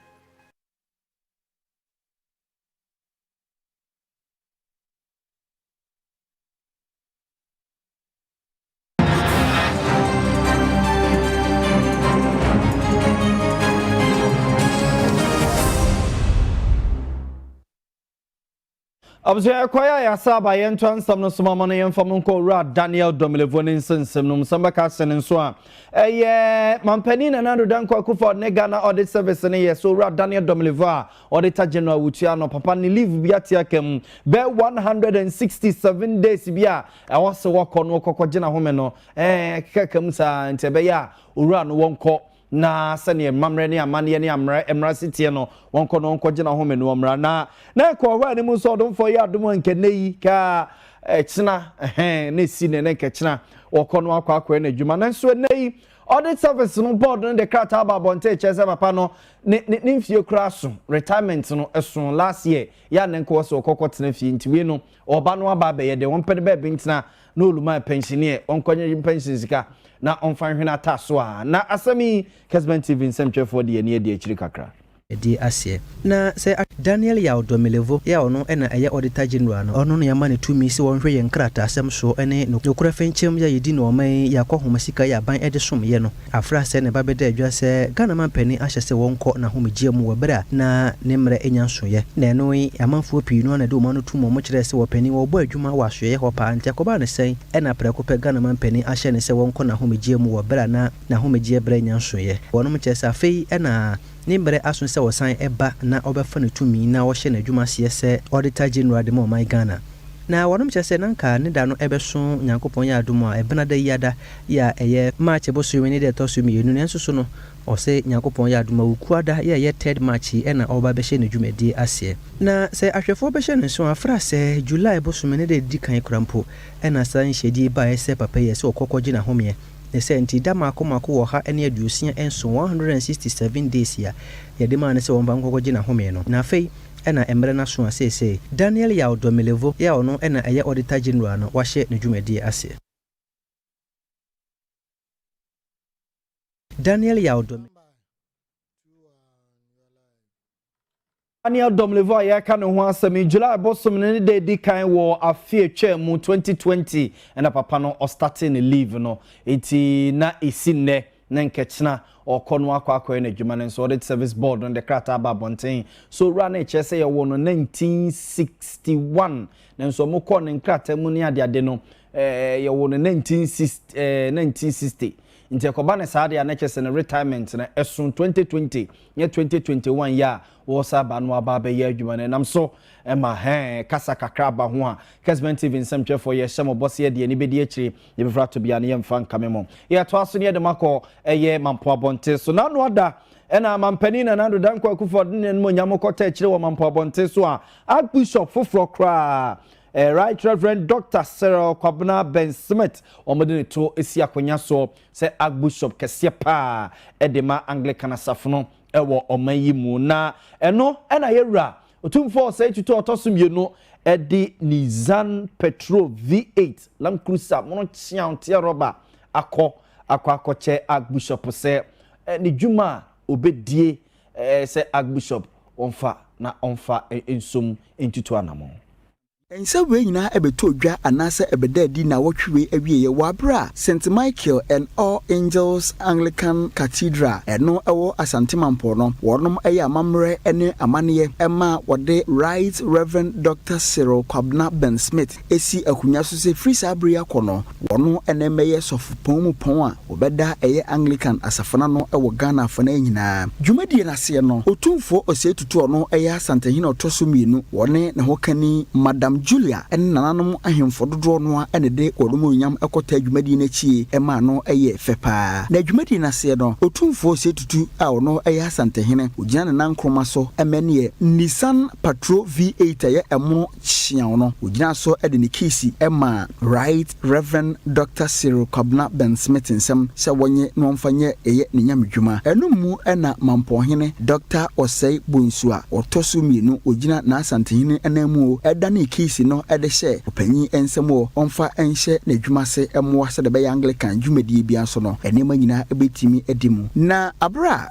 abusua ɛkwan a yɛasa aba yɛn ntoa nsɛm no so ma no yɛmfa mu nkɔ owura daniel dɔmelevo ne nsɛnsɛm no mu sɛm bɛka ase no nso a ɛyɛ mampanin nana ado danko akufo ne ghana ɔde service no yɛ so owura daniel dɔmelevo a ɔde ta general wutua no papa ne leave bi ate aka mu bɛ 167 days bi a Ɛhɔ se wɔkɔ no kɔkɔgyina home no ɛɛ ɛkekaka mu saa nti ɛbɛyɛ a owura no wɔnkɔ na sɛdeɛ mmammerɛ ne amanneɛ ne ammerɛ mmara si teɛ no wɔnkɔ na wɔnkɔgyina home no wɔmmra na na ɛkɔ ɔhɔ a anim nso ɔdomfoɔ yɛ adom a nka nnɛ yi ka ɛkyena ɛhɛn na ɛsi ne ne nka kyena wɔkɔ no akɔ akɔɛ no adwuma nanso ɛnnɛ yi audit service no board no de krataa ba abɔnten kyerɛ sɛ papa no ne ne ne mfie koraa so retirement no ɛso last year yɛ a na nka wɔ sɛ ɔkɔkɔ tena fie nti wei no Ɔba no aba abɛyɛ dɛ ɔmpɛ ne baabi ntsena na olumaa pɛnhyen ɛ, ɔnkɔnye ne pɛnhyen sika na ɔmfa nhwe n'ataaso a. Na asɛm yi, Kesben TV nsɛmtwerɛfoɔ de ani adi akyiri kakra. adi aseɛ. Na sɛ a. Daniel Yaw Domelevo a ɔno na ɛyɛ Auditor General no, ɔno na yɛama no tumi sɛ ɔnhwɛ yɛn nkrataasɛm soɔ ne nokorɛ fenkyem yɛ a yɛdi ne ɔman yi yɛ akɔhoma sika yɛ aban de som yɛ no. Afra asɛe ne ba bɛda adwa sɛ Ghana manpanin ahyɛ sɛ wɔnkɔ n'ahomegyeɛ mu wɔ berɛ a na ne mmerɛ anya nsoeɛ. Na ɛno yi, amanfoɔ pii no ara na ɛde wɔn ano tum wɔn kyerɛɛ sɛ wɔpanin wɔrebɔ adwuma wɔ asoɛeɛ hɔ paa, nti ɛkɔbaa no sɛn na prɛko pɛ Ghana manpanin ahyɛ no sɛ wɔnkɔ n'ahomegyeɛ mu wɔ berɛ a na n'ahomegyeɛ berɛ anya nsoeɛ? Wɔnom kyerɛ sɛ afei na Ne bere aso sɛ ɔsan ba na ɔbɛfa ne tumi na ɔhyɛ n'adwuma aseɛ sɛ Auditor General de ma ɔman Ghana. Na wɔnom kyerɛ sɛ na nka ne da no bɛso Nyankopɔn yɛ adom a ɛbena da yi ada yi a ɛyɛ March bosome ne da ɛtɔ so mmienu nanso so no ɔse Nyankopɔn yɛ adom Awukuaa da yi a ɛyɛ third March yi ɛna ɔreba abɛhyɛ ne dwumadie aseɛ. Na sɛ ahwɛfoɔ bɛhyɛ no nso a fra sɛ July bosome ne da ɛdi kan koraa mpo ɛna saa nhyɛdie yi baeɛ sɛ papa yi ɛsɛ ɔkɔ kɔgye n'ahomeɛ. Ne sɛ, nti da mmaako mmaako wɔ ɔha ne aduosia nson, one hundred and sixty seven days, a Yɛde maa no sɛ ɔmfa nkɔkɔgye n'ahome no. Na afei, ɛna mmerɛ no aso a seesei, Daniel Yaw Domelevo, a ɔno na ɛyɛ Auditor General no, wahyɛ ne dwumadie aseɛ. Daniel Yaw Domelevo. Daniel Domlevo a yɛreka ne ho asɛm yi, July bosom no ne da edi kan wɔ afe atwa mu 2020 ɛna papa no ɔstate ne leave no. Enti na esi nnɛ na nkɛkyena ɔkɔ no akɔ akɔyɛ n'adwuma no nso audit service board no de krataa aba abɔnten. So owura no rekyerɛ sɛ yɛwɔ no 1961 nanso wɔn kɔɔ ne nkrataa mu ne adeade no ɛɛ yɛwɔ no 1960 ɛɛ 1960 nti ɛkɔba ne saa deɛ a na kyerɛ sɛ ne retirement no ɛso 2020. Nyɛ twenty twenty one yi a wɔresan aba no aba abɛyɛ adwuma no ɛnam so ma hɛn kasa kakra aba ho a, Kesben TV nsɛmtwerɛfoɔ yɛhyɛ mo bɔ sɛ yɛde ani bɛdi akyire na yɛbɛfiri ato bea no yɛmfa nkame mo. Yɛtoa so na yɛde mo akɔ ɛyɛ Mampo Abɔnten so. Nano Ada ɛna Mampanin Nana Addo Dankwa Akuffo Addo ne n'animuonyam kɔtɔ akyire wɔ Mampo Abɔnten so a Archbishop foforɔ koraa eh, Right Reverend Doctor Cyril Kwabena Ben Smith wɔde ne to si akonnwa soɔ. Sɛ Archbishop kɛseɛ paa de ma Anglican asafo no wɔ ɔman yi mu. Na ɛno na yɛn Wura, Otumfoɔ Ɔsɛe Tutu a Ɔtɔ so Mmienu de Nissan Petrol V8 Land Cruiser mono kyeaoteɛ rɔba akɔ akɔ akɔkyɛ Archbishop sɛ ne dwuma a ɔbɛdie sɛ Archbishop wɔmfa na ɔmfa nsom ntutu anamɔn. Nsɛm wei nyinaa bɛtɔɔ dwa anaasɛ ɛbɛdaa adi nnawɔtwe wei awieeɛ wɔ aberɛ a St. Michael and All Angels Anglican Cathedral a ɛno wɔ Asante Mampɔn no wɔnom yɛ amammerɛ ne amanneɛ ma wɔde Right Rev. Doctor Cyril Kwabena Ben Smith asi akonwa so sɛ firi saa berɛ yi akɔ no wɔno na ɛmmɛyɛ sɔfopɔn mu pɔn a Wɔbɛda ɛyɛ Anglican asafo no ano wɔ Ghana afanan nyinaa. Dwumadie no aseɛ no, Otumfoɔ Osei Tutu a ɔno yɛ Asantehene a ɔtɔ so mmienu, ɔne ne hokani Madam Julia ne nananom ahemfo dodoɔ no ara na ɛde wɔn anuonyam kɔtaa dwumadie no akyie maa no yɛɛ fɛ pa ara. Na dwumadie no aseɛ no, Otumfoɔ Osei Tutu a ɔno yɛ Asantehene, ɔgyina ne nan nkroma so ma ɛneɛ Nissan Patrol V8 a ɛyɛ ɛmono hyiaw no, ogyinaa so de ne keesi maa Right Rev. Dɔkta Cyril Kwabena Bensmith nsam sɛ wɔnye no mfa nyɛ ɛyɛ ne nyamedwuma. Ɛno mu na Mampɔhene Dɔkta Osei Bonsu a ɔtɔ so mmienu ogyina n'Asantehene ananmu o, danee keesi no de hyɛɛ ɔpanyin nsam o, ɔmfa nhyɛ n'adwuma ase mmoa sɛdeɛ ɛbɛyɛ Anglikan dwumadie biara so no, nneɛma nyinaa bɛtumi adi mu. Na bere a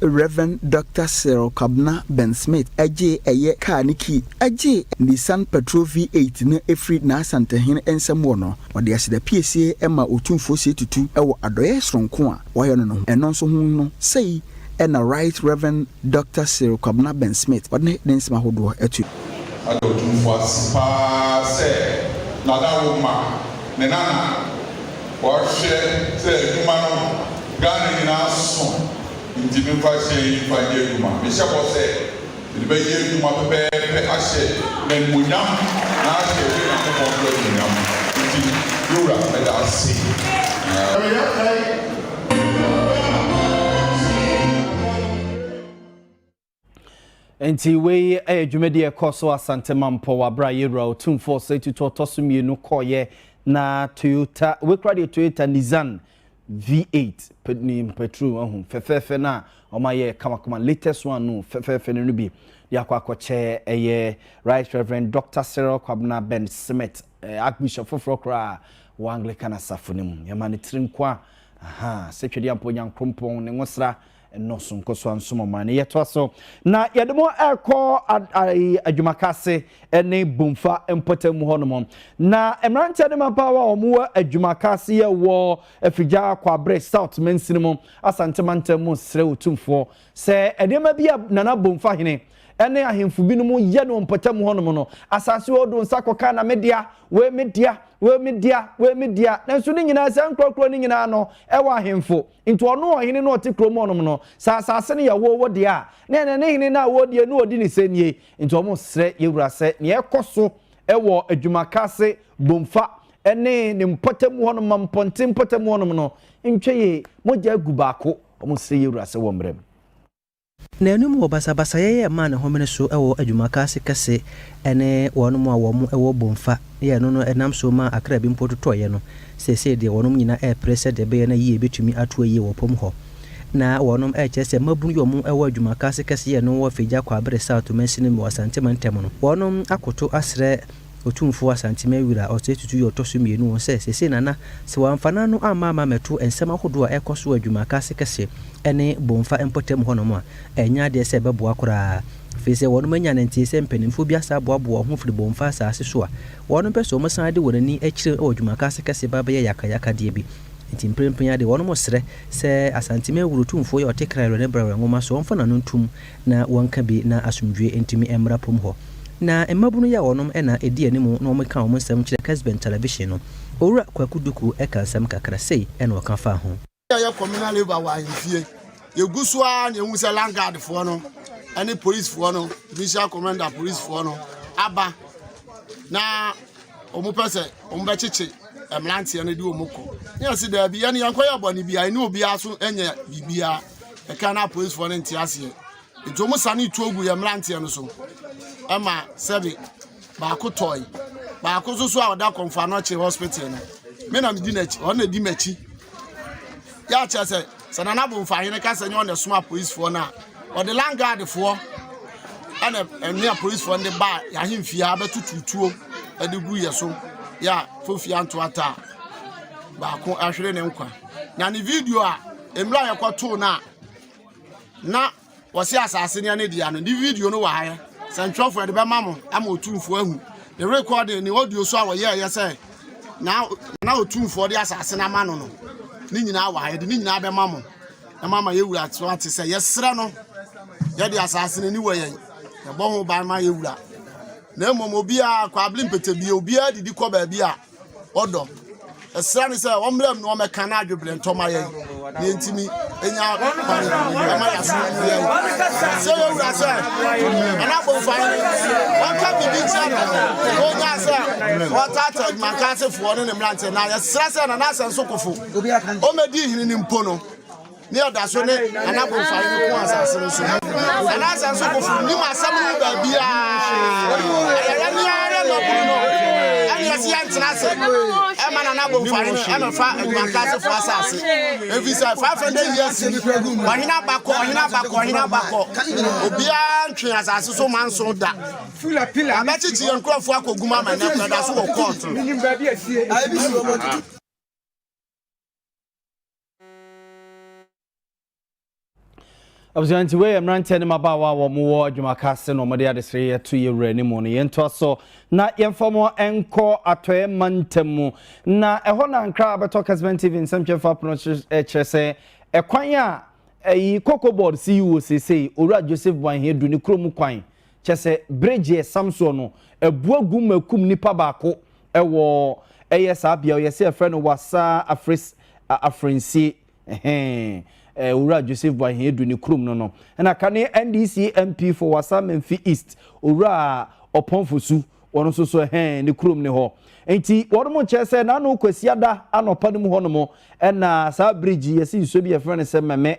Rev. Dɔkta Cyril Kwabena Ben Smith gyee ɛyɛ kaa ne kii gyee Nissan Patrol V8 no firi n'Asantehene nsam wɔ no. Wɔde asedapiesie maa Otumfoɔ Osei Tutu wɔ adɔeɛ soronko a wɔayɛ no no ho. Ɛno nso ho no, sei na Right Rev. Dɔkta Cyril Kwabena Ben Smith ne ne nsɛm ahodoɔ to. Ada Otumfoɔ ase paa sɛ Nana wo ma ne Nana ɔhwɛ sɛ adwuma no Ghana nyinaa so nti me mfa hyɛ yi mfa nyɛ adwuma. Me hyɛ bɔ sɛ mede bɛ yɛ adwuma pɛpɛɛpɛ ahyɛ n'animuonyam na ahyɛ yɛ Nyankopɔn nso animuonyam nti me wura meda ase. Nti wei yɛ dwumadi a ɛkɔɔ so Asante Mampɔ wɔ abere a Yewura Otumfoɔ Osei Tutu ɔtɔ so mmienu kɔeɛ na Toyota wei koraa deɛ Toyota Nissan V8 ne mpaturu ahu fɛfɛɛfɛ no a wɔn ayɛ kamakama latest one no fɛfɛɛfɛ no no bi de akɔ akɔkyɛ ɛyɛ Right Reverend Dr. Cyril Kwabena Ben Smith Archbishop foforɔ koraa wɔ Anglican asafo no mu yɛma no tiri nkoa aha sɛ Twedeampɔ Nyankrompɔn ne nwosra nnɔɔso nkɔ so ansom ɔman no. Yɛtoa so na yɛde mo ɛrekɔ adwumaka ase ne Bomfa mpɔtam mu hɔnom. Na mmeranteɛ ne mmabaawa a wɔwɔ adwumaka ase yɛ wɔ Afigya Kwabre South mansini mu Asante mantam mu srɛ Otumfoɔ sɛ nneɛma bi a Nana Bomfa hene ne ahemfo binom yɛ no mpɔtam hɔnom no, asase wɔ do nsa kɔka na medea, wei medea, wei medea, wei medea. Nanso ne nyinaa saa nkurakura no nyinaa no ɛwɔ ahemfo. Enti ɔno ɔhene no a ɔte kurom hɔnom no, sɛ asase no yɛ wo, wo dea a, na ɛnɛ ne hene no a wɔredie no ɔdi ne sɛ nie. Enti wɔsrɛ yɛn wura sɛ nea ɛkɔ so wɔ Adwumakase Bomfa ne ne mpɔtam hɔnom ma mpɔnten mpɔtam hɔnom no ntwa yie, mogya agu baako, wɔsrɛ yɛn wura sɛ wɔmmrɛ mu. N'anom wɔ basabasayɛ yɛ maa ne homene so wɔ adwumaka ase kɛse ne wɔnom a wɔn wɔ bomfa yɛ no no nam so maa akra bi mpo totɔeɛ no, seesei deɛ wɔnom nyina repere sɛ deɛ ɛbɛyɛ na yie bɛtumi atoa yie wɔ pom hɔ. Na wɔnom rekyerɛ sɛ mmabunu yi wɔn wɔ adwumaka ase kɛse yɛ no wɔ Fegya Kwaabere South mansini mu wɔ Asante Mantam no wɔnom akoto asrɛ Otumfoɔ Asantemaɛ Wira Osei Tutu yɛ ɔtɔ so mmienu wɔ sɛ seesei na na sɛ wɔamfa n'ano amma ama mɛto nsɛm ahodoɔ a ɛrekɔ so wɔ adwumakase kɛseɛ ne Bomfa mpɔtam hɔnom a, ɛnyɛ adeɛ sɛ ɛbɛboa koraa. Ɛfiri sɛ wɔnom anya ne nteeɛ sɛ mpanimfoɔ bi asan aboaboa wɔn ho firi Bomfa asaase so a, wɔnom pɛ sɛ wɔsan de wɔn ani kyerɛ wɔ adwumakase kɛseɛ ba bɛyɛ yakayakadeɛ bi. Nti mprempren ara deɛ wɔnom resrɛ sɛ Asantemaɛ Wura Otumfoɔ yi a ɔte Kra Werɛ ne Brɛ Werɛ nwoma so ɔmfa n'ano ntom na wɔnka bi na asomdwoe ntumi mmra pom hɔ. Na mmabunu yi a wɔnom na edi anim na wɔka wɔn nsɛm kyerɛ Kesben Television no, Owura Kwaku Duku ka nsɛm kakra, sei na ɔka faa ho. Yɛ yɛ communal labour wɔ ahemfie yɛ gu so ara na yɛ hu sɛ land guard foɔ no ɛne police foɔ no judicial commander police foɔ no aba na wɔn pɛ sɛ wɔn bɛkyekye mmeranteɛ no de wɔn kɔ ne yɛsi daabi yɛn yɛn kɔyɛ bɔne bi a ɛne obiara so nyɛ biribiara ɛka na apolisifoɔ no nte aseɛ nti wɔn sane tuo gu yɛn mmeranteɛ no so ɛma sɛbi baako tɔe baako nso so a ɔda kɔnfano akyi hospital no me na medi n'akyi ɔno na edi m'akyi yɛakyɛ sɛ Sɛ Nana Bomfahene ka sɛ nyɛ ɔna ɛsoma apolisifoɔ no a, ɔde langaadfoɔ ɛna ɛne apolisifoɔ no de baa yɛahemfie ha bɛtutu tuo ɛde gu yɛ so yɛ a fofie anto ata a baako ahwere ne nkwa na ne video a mmerɛ a yɛkɔtoo no a na Wɔse asase ne ne dea no. Ne video no wɔ ha yɛ sɛntwerɛfoɔ yɛde bɛma mo ama otumfoɔ ahu ne rekɔde ne audio so a wɔyɛɛyɛ sɛ na na otumfoɔ de asase no ama no no ne nyinaa wɔ ha yɛde ne nyinaa bɛma mo na mo ama yɛwura so ate sɛ yɛserɛ no yɛde asase no ani wɔ yɛn yɛbɔ ho ban ma yɛwura na mmom obiara kwabli mpɛtɛbie obiara didi kɔ baabi a ɔdɔ ɛsra ne sɛ ɔmmra mu na ɔmɛka no adwebrɛ ntɔma yɛn na yɛntumi ɛnya kwan ɛma yɛasoma no yɛn sɛ yɛwura sɛ ɛna abɔmfa no ɔnka biribi kyerɛ no na ɔnya sɛ ɔtata adwumankasefoɔ ne ne mmeranteɛ na yɛsrɛ sɛ nanaasɛ nsokofo ɔmɛdi hene no mpo no Ne yɛ da so ne ana bonfire no ko asase no so. Ana sɛ nso kofo nim asɛm no baabia. Ayɛyɛ ne ara na ɔburu no. Ɛne yɛ seɛ ntena ase. Ɛma nana bonfire no ɛmɛ fa adwumanta ase fo asase. Efi sɛ 500 years ni. Ɔhene abakɔ, ɔhene abakɔ, ɔhene abakɔ. Obiara ntwe asase so ma nso da. Abɛkyekye yɛn nkurɔfoɔ akɔgum ama nɛ kura da so wɔ kɔɔto. abusua nti wei yɛ mmeranteɛ ne mmabaawa a wɔwɔ adwumaka ase na wɔde adesere yɛto yɛ wura ne mu no yɛntoa so na yɛmfa mo nkɔ atɔeɛ mantam mu na ɛhɔ na ankra bɛtɔ kasman tv nsɛmtwerɛfa pono kyerɛ sɛ ɛkwan a ɛyi koko board si yi wɔ seesei owura joseph boanhia du ne kurom kwan Kyɛ sɛ bere gyeɛ sam soɔ no, abua gu ma ɛkum nipa baako wɔ ɛyɛ saa bea ɔyɛ sɛ yɛfrɛ no Wassa Afres Afrensie ɛhɛn Owura Joseph Boahen Adu ne kurom no no. Ɛna kane NDC MP for Wassa Menfi East Owura Ɔpɔn Fosu wɔn nso so ɛhɛn ne kurom ne hɔ. Nti wɔn mo kyerɛ sɛ n'ano Kwasiada anɔpa no mu hɔ nom ɛna saa bridge yɛsi nsuo bi yɛfrɛ no sɛ mɛmɛ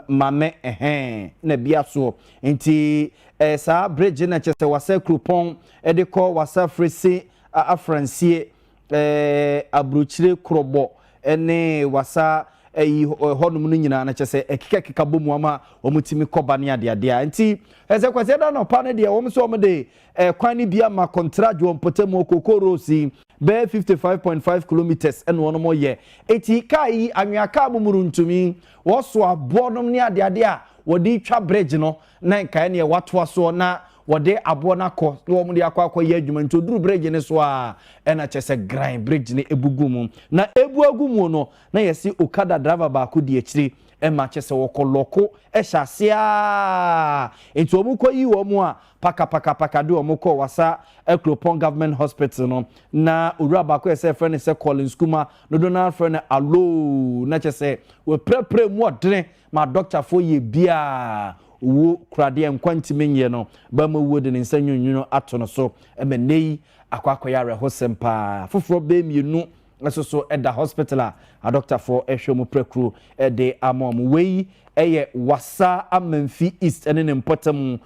ma me ɛhɛn na bia soɔ nti ɛyɛ saa bridge na kyɛsɛ wasa kuropɔn de kɔ wasa fresi afransie ɛɛ abrukyire korɔbɔ ne wasa ɛyi hɔnom no nyinaa na kyɛsɛ ɛkeka keka bɔ mu ama wɔn timi kɔba ne adeadea nti ɛsɛ kwasi ɛda na ɔpa ne deɛ wɔn sɛ wɔn de ɛkwan ne bia ma kɔntrad wɔn pɔtɛmu ɔkoko rose yi bɛɛ 55.5 kilometers ɛna wɔn yɛ eti kaa yi anwea kaa mu mu no ntumi Wɔsoa aboɔnom ne adeade a wɔde retwa bregye no na nkaeɛ neɛ wɔatoa soɔ na wɔde aboɔ no akɔ na wɔde akɔ akɔyɛ adwuma nti ɔduru bregye no so a ɛna kyɛ sɛ gran bregye no ɛbu gu mu na ɛbu agu muo no na yɛse okada driver baako di akyire ma kyɛ sɛ wɔkɔ lɔko ɛhyɛ ase aa nti wɔn kɔ yi wɔn a paka paka paka de wɔn kɔ wasa akuropɔn government hospital no na owura baako yɛ sɛ ɛfrɛ no sɛ Collins Kuma Dodow no ara frɛ no aloo, na kyerɛ sɛ wɔapirapira mu ɔdene ma adɔktafoɔ yɛ biaa owuo kura deɛ nkwa ntumi nnyɛ no, ba ma owuo de ne nsa nwununwunu ato no so ma nnɛ yi akɔ akɔyɛ awerɛhosɛm paa. Afoforɔ bɛyɛ mmienu nso so da hospital a adɔktafoɔ rehwɛ wɔn pirakuro de ama wɔn. Wei yɛ Wassa Amanfi East ne ne mpɔtamu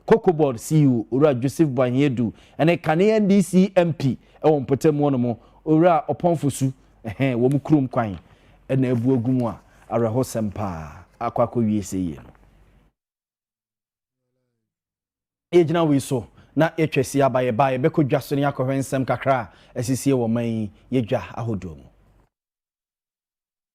Cocoboard CEO Owura Joseph Boahe Adu ne kane NDC MP wɔ mpɔtam hɔ nom Owura Ɔpɔn Fosu ɛhɛn wɔn kurom kwan na abu agu mu a awerɛhosɛm paa akɔ akɔwie sɛ yie no. Yɛgyina wei so na yɛtwa asie aba yɛ ba yɛbɛkɔ dwa so na yɛakɔhwɛ nsɛm kakra a asisie wɔ man yi yɛ dwa ahodoɔ mu.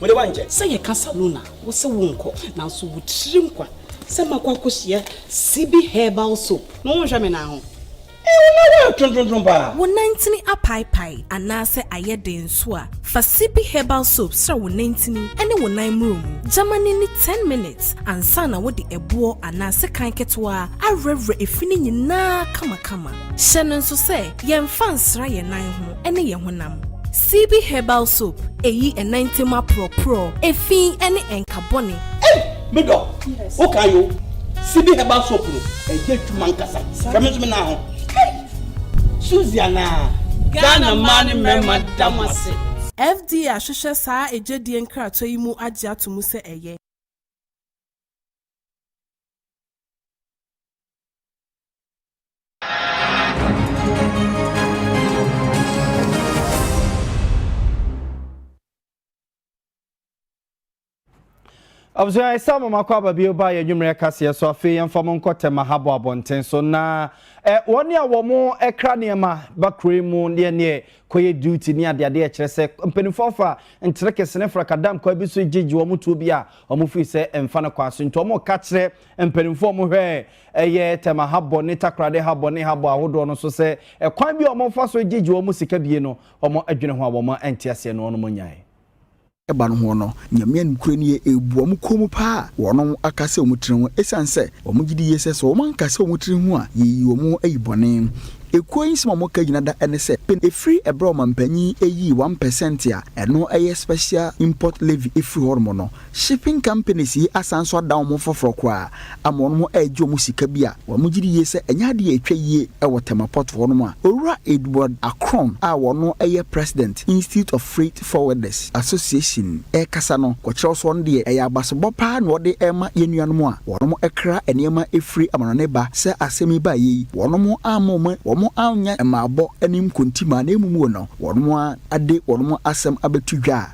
Wo de woankyɛ. Sɛ yɛka salon a, wo se wonkɔ. Nanso wo tirim kwa sɛ makɔ akɔhyia Sibi herbal soap. No wonhwɛ me nan ho. Ee wo nan ho ayɛ trontrontron paa. Wo nantini apaepae anaasɛ ayɛ den nso a, fa Sibi herbal soap sra wo nantini ne wo nan mmuro mu. Gya ma no nni ten minutes ansa na wode ɛboɔ anaa sekan ketewa awurawura efi no nyinaa kamakama. Hyɛ no nso sɛ yɛmfa nsra yɛn nan ho. ne yɛn honam. CB herbal soap eyi ɛnantam aporɔporɔ, efi ne ɛnka bɔne. Ei! Me dɔ, wo kan yo. CB herbal soap no ɛyɛ adwuma nkasa. Fɛ me nso me naa ho. Suzy anaa? Ghana mmaa ne mmarima da mo ase. FDA ahwehwɛ saa agyedie nkratoa yi mu agye ato mu sɛ ɛyɛ. abusua ɛsɛ mo makɔ aba bio ba yɛ nwummerɛ kaseɛ so afei yɛmfa mo nkɔ tɛma ha bɔ abɔnten so na ɛ wɔn a wɔn mo ɛkra nneɛma ba kuro yi mu deɛ neɛ kɔyɛ duty ne adeade ɛkyerɛ sɛ mpanimfoɔ afa ntere kese ne frakadam kwan bi so gyegye wɔn tuo bi a wɔn firi sɛ mfa no kwan so nti wɔn ka kyerɛ Mpanimfoɔ no hwɛ ɛyɛ tɛma habɔ ne takorade habɔ ne habɔ ahodoɔ no so sɛ ɛkwan bi a wɔfa so gyegye wɔn sika bie no, wɔn adwene ho a wɔn ante aseɛ no wɔn nyae. ba no ho no, Nyame nokorɛ nie ɛrebu wɔn kɔn mu paa, wɔn aka sɛ wɔn tiri ho, ɛsiane sɛ wɔn gye di yie sɛ sɛ wɔn anka sɛ wɔn tiri ho a, yɛyi wɔn ayi bɔne. Ekuo yi nsɛm a wɔka gyina da ne sɛ, pen ɛfiri ɛberɛ a ɔmanpanyin yii one percent a ɛno yɛ special import levy firii hɔ nom no, Shipping companies yi asan nso ada wɔn ho foforɔ koraa ama wɔn ho ɛregye wɔn sika bi a wɔn gye di yie sɛ ɛnyɛ adeɛ a ɛtwa yie ɛwɔ Tema Port hɔ nom a Owura Edward Akron a wɔno ɛyɛ President Institute of Freight Forwarders Association ɛrekasa no kɔkyerɛw sɛ ɔno deɛ ɛyɛ abasobɔ paa na ɔde ɛrema yɛn nuanom a wɔnom ɛkra nneɛma ɛfiri amanɔne ba sɛ asɛm yi baeɛ yi wɔnom amma wɔn wɔn annyɛ mmaabɔ ne nkonti maa na mmom wɔ no wɔnom ara de wɔnom asɛm abɛto dwa a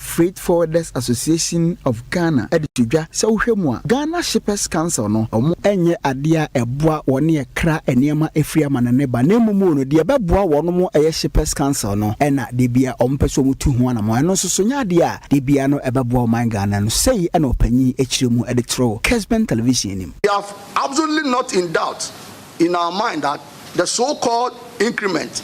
Freight Forwarders Association of Ghana de to dwa sɛ wohwɛ mu a, Ghana Shippers Council no, wɔn, ɛnyɛ adeɛ a ɛboa wɔn ne ɛkra nneɛma firi amanɔne ba na mmom o no, deɛ ɛbɛboa wɔn mo ɛyɛ Shippers Council no na da biara wɔn pɛ sɛ wɔn tu ho anamɔn. Ɛno nso so nyɛ adeɛ a da biara no ɛbɛboa ɔman Ghana no. Sei na ɔpanyin kyerɛ mu de too Kesben Television anim. We are absolutely not in doubt in our mind that the so called increment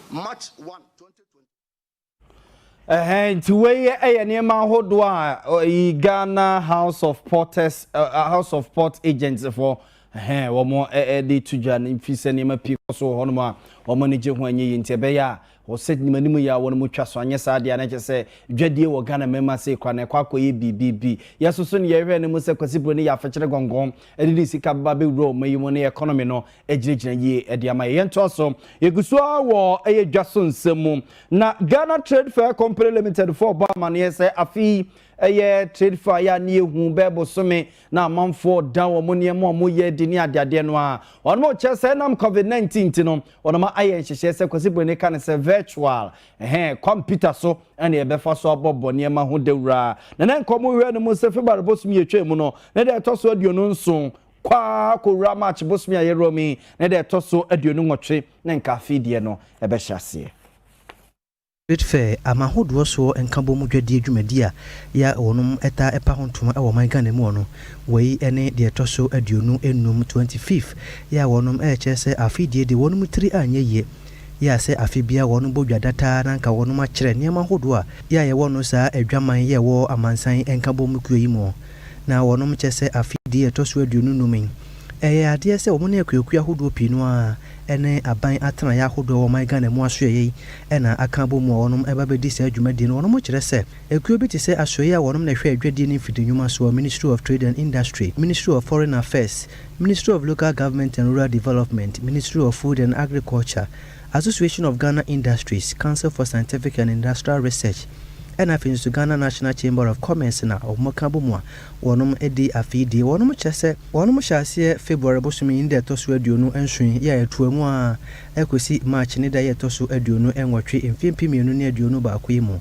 March one twenty twenty. Ɛhɛn nti wei yɛ nneɛma ahodoɔ a yi Ghana House of Porters uh, House of Port Agents foɔ ɛhɛn wɔn de to dwa no fi sɛ nneɛma pii kɔ so wɔ hɔnom a wɔn ani gye ho anyɛ yie nti ɛbɛyɛ a wɔsɛ nim anim yɛ a wɔn mu twa so anyɛ saa deɛ na kyɛ sɛ dwadie wɔ Ghana mmarima sɛ kora na ɛkɔ akɔyɛ biribibi yɛsoso ne yɛhwɛ no mu sɛ kwasiburo ne yɛ afɛkyerɛ gɔngɔn ɛde ne sika ba bɛwura wɔn yi mu ne economy no gyinagyina yie de ama yɛ yɛntoa so yɛgu so ara wɔ ɛyɛ dwa so nsɛm mu na ghana trade fair company limited fo ɔbɔ amaneɛ sɛ afei ɛyɛ trade fair yɛ a ne yɛhu bɛɛ bosome na amanfoɔ da wɔn nneɛma a wɔyɛ di ne adeadeɛ no a wɔn mo kyɛ sɛ nam covid 19 nti no wɔn ma ayɛ nhyehyɛɛ sɛ kwasi bɔne ka ne sɛ virtual ɛhɛn kɔmputa so ɛna yɛbɛfa so abɔbɔ nneɛma ho dawura na na nkɔmɔ hwɛ no mu sɛ february bosom yɛtwa mu no ne deɛ ɛtɔ so aduonu nson Kwaa kɔwura March bosome a yɛwura mu yi ne da ɛtɔ so aduonu nwɔtwe na nka afei deɛ no ɛbɛhyɛ aseɛ. Trade Fair, ama ahodoɔ soɔ nkabɔmu dwadie dwumadie a yɛ a wɔnom taa ɛpa ho ntoma wɔ ɔman Ghana mu ɔno, wei ne deɛ ɛtɔ so aduonu nnum, twenty fifth, yɛ a wɔnom ɛrekyerɛ sɛ afei deɛ deɛ wɔnom tiri anyɛ yie, yɛ a sɛ afei biara wɔnom bɔ dwa da taa na nka wɔnom akyerɛ nneɛma ahodoɔ a yɛ a yɛwɔ no saa adwaman yɛ ɛwɔ amansan nkabɔmu kuo yi mu. na wɔnom kyɛ sɛ afe dii a ɛtɔ so aduonu nnum yi, ɛyɛ adeɛ sɛ wɔn ne akuakuo ahodoɔ pii no ara ɛne aban atenaeɛ ahodoɔ a wɔn man Ghana mu asoɛeɛ yi na aka abɔ mu a wɔnom ɛba bɛdi saa dwumadie no. Wɔnom kyerɛ sɛ ekuo bi te sɛ asoɛeɛ a wɔnom na ɛhwɛ adwadie ne mfidi nnwuma soɔ, Ministry of Trade and Industry, Ministry of Foreign Affairs, Ministry of Local Government and Rural Development, Ministry of Food and Agriculture, Association of Ghana Industries, Council for Scientific and Industrial Research ɛna afei nso Ghana National Chamber of Commerce na wɔn ka bom a wɔnom di afei die. Wɔnom kyerɛ sɛ wɔnom hyɛ aseɛ February bosome ne da ɛtɔ so aduonu nson yɛ a ɛtoa mu ara ɛkɔsi March ne da yɛ ɛtɔ so aduonu nwɔtwe mfeɛ mpem mmienu ne aduonu baako yi mu.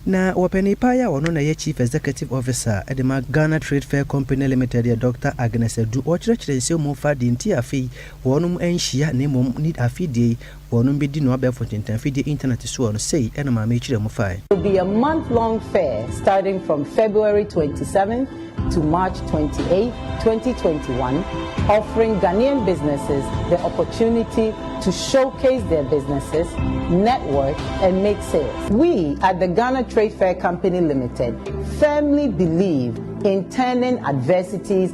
Na wɔpanin paa yi a ɔno na ɛyɛ Chief Executive Officer de ma Ghana Trade Fair Company Limited yɛ Doctor Agnes Adu. Ɔkyerɛkyerɛ nsɛm mu fa deɛ nti a afei Wɔnom nhyia na mmom ne afidie yi wɔnom bedi no abɛɛfo ntentan fidie intanɛte soɔ no, sei ɛna maame yi kyerɛ mu fae. It will be a month long fair starting from February twenty seventh to March twenty eighth, twenty twenty one, offering Ghanaian businesses the opportunity to showcase their businesses, network and make sales. We at the Ghana Trade Fair Company Limited firmly believe in turning adversities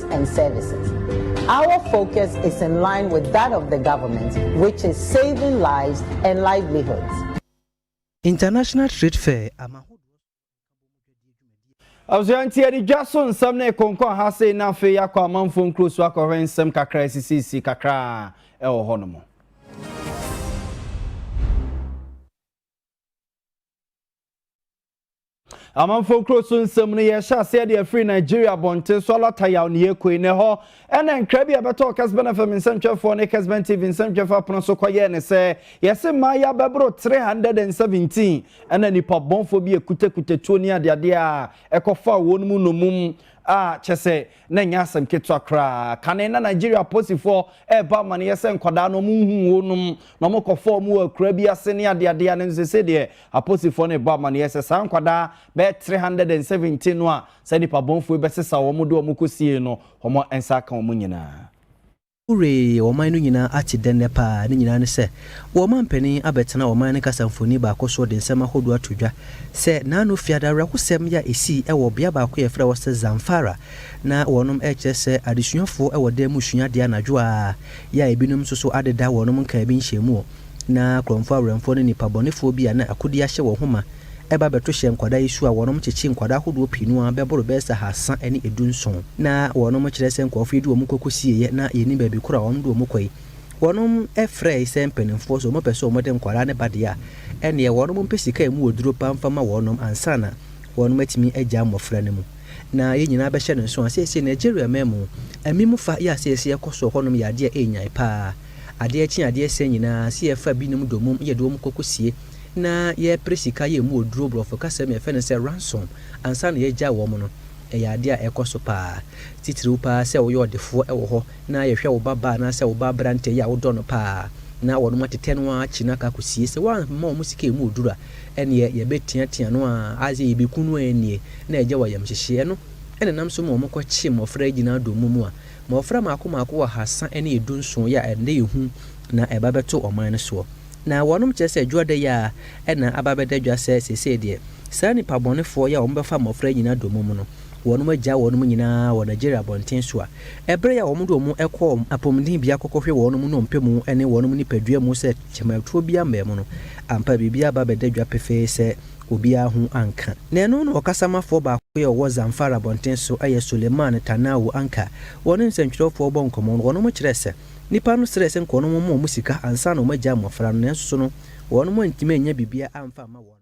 products and services. Our focus is in line with that of the government which is saving lives and livelihoods. International Trade Fair ama abusua nti yɛde dwa so nsɛm ne konkɔn ha sei na afei akɔ amanfoɔ nkuro so akɔhwɛ nsɛm kakra asisisi kakra ɛwɔ hɔ nom Amanfo kuro so nsɛm no yɛhyɛ aseɛ de afiri Nigeria abɔnten so alata yaw ne yɛkoi na ɛhɔ ɛna nkra bi a ɛbɛtɔɔ Kesben FM nsɛntwerɛfoɔ ne Kesben TV nsɛntwerɛfoɔ apono so kɔyɛɛ ne sɛ yɛse mmaayɛ abɛboro 317 ɛna nipa bɔnfoɔ bi akutakuta tuo ne adeadeɛ a ɛkɔfaa wɔn mu nomum a kyɛ sɛ Na ɛnyɛ asɛm ketewa koraa. Kane na Nigeria apolisifoɔ rebɔ amanneɛ sɛ nkwadaa no wɔhuu wɔnom na wɔkɔfaa wɔn wɔ akuraa bi ase ne adeadeɛ a nanso seesei deɛ apolisifoɔ no rebɔ amanneɛ sɛ saa nkwadaa bɛyɛ three hundred and seventeen no a saa nnipa bɔnfoɔ yi bɛsesa wɔn de wɔn kɔsiee no wɔn nsa aka wɔn nyinaa. Norway ɔman no nyinaa ate dɛn nnɛ paa? Ne nyinaa ne sɛ, wɔrema mpanin abɛtena ɔman no kasa mfoni baako so de nsɛm ahodoɔ ato dwa. Sɛ naano fiada awerɛhosɛm yɛ a ɛsii wɔ bea baako a wɔfrɛ hɔ sɛ Zamfara, na wɔnom rekyerɛ sɛ adesuafoɔ wɔ dan mu sua adeɛ anadwo ara, yɛ a ebinom nso so adeda wɔnom nkaabi nhyɛmuɔ. Ná Korɔnfo awɛmfoɔ ne nnipa bɔnefoɔ bi a na akodi ahyɛ wɔn ho ma ba bɛto hyɛ nkwadaa yi su a wɔnom kyekye nkwadaa ahodoɔ pii no ara bɛboro bɛyɛ sɛ ahaasa ne edu nson. Ná wɔnom kyerɛ sɛ nkorɔfo yi de wɔn kɔ kɔsieeɛ na yɛnnim baabi koro a wɔnom de wɔn kɔ yi. Wɔnom frɛɛe sɛ mpaninfoɔ sɛ wɔn pɛ sɛ wɔn de nkwadaa no ba deɛ a ɛnneɛ wɔnom mpɛ sika a ɛmu ɔduro paa mfa ma wɔnom ansa na wɔnom atumi agyaa mmɔfra no mu. Na yɛn nyinaa bɛhyɛ no nso a seesei Nigeria man mu amim fa yɛ a seesei ɛkɔ soɔ hɔnom yɛ adeɛ a ɛnnyae paa. Adeɛ kye adeɛ sɛ nyinaa sɛ yɛfa binom domum yɛde wɔn kɔkɔsie na yɛpere sika yɛ mu oduro brɔfo kasa mu yɛfɛ no sɛ ransom ansa na yɛagya wɔn no ɛyɛ adeɛ a ɛkɔ so paa titiriw paa sɛ woyɛ ɔdefoɔ wɔ hɔ na yɛhwɛ wo ba baa anaasɛ wo ba aberantɛ yi a wodɔ no paa na wɔnom atetɛ no ara akyi no akɔ akɔsie sɛ woamma wɔn sika ɛmu oduro a ɛneɛ yɛbɛteatea no ara asɛ yɛbɛku no ara nie na agya wɔ ayamhyehyeɛ ɛno na ɛnam so ma wɔkɔkye mmɔfra yi gyina domum a Mmɔfra mmaako mmaako ɔhasa ne edu nson yɛ a ɛnnɛ yɛ hu na ɛba bɛto ɔman no soɔ. Na wɔnom kyerɛ sɛ dwoɔ da yi ara na aba abɛda dwa sɛ seesei deɛ saa nnipa bɔnefoɔ yi a wɔn bɛfa mmɔfra nyinaa domum no, wɔnom agyaa wɔnom nyina ara wɔ Nigeria abɔnten so a ɛberɛ yi a wɔn de wɔn kɔɔ apɔmuden bea kɔkɔhwɛ wɔnom nnompe mu ne wɔnom nipadua mu sɛ kyɛmatuo bi ammɛn mu no, ampa biribi aba abɛda dwa pefee sɛ Obiara ho anka. Na ɛno na ɔkasamafoɔ baako bi a ɔwɔ Zamfara abɔnten so yɛ Suleiman Tanawu anka. Wɔne nsɛntwerɛfoɔ rebɔ nkɔmmɔ no, wɔnom kyerɛɛ sɛ, nnipa no srɛɛ sɛ nka wɔnom mma wɔn sika ansa na wɔagyaa mmɔfra no, nanso so no, wɔnom antumi annya biribiara amfa amma wɔn.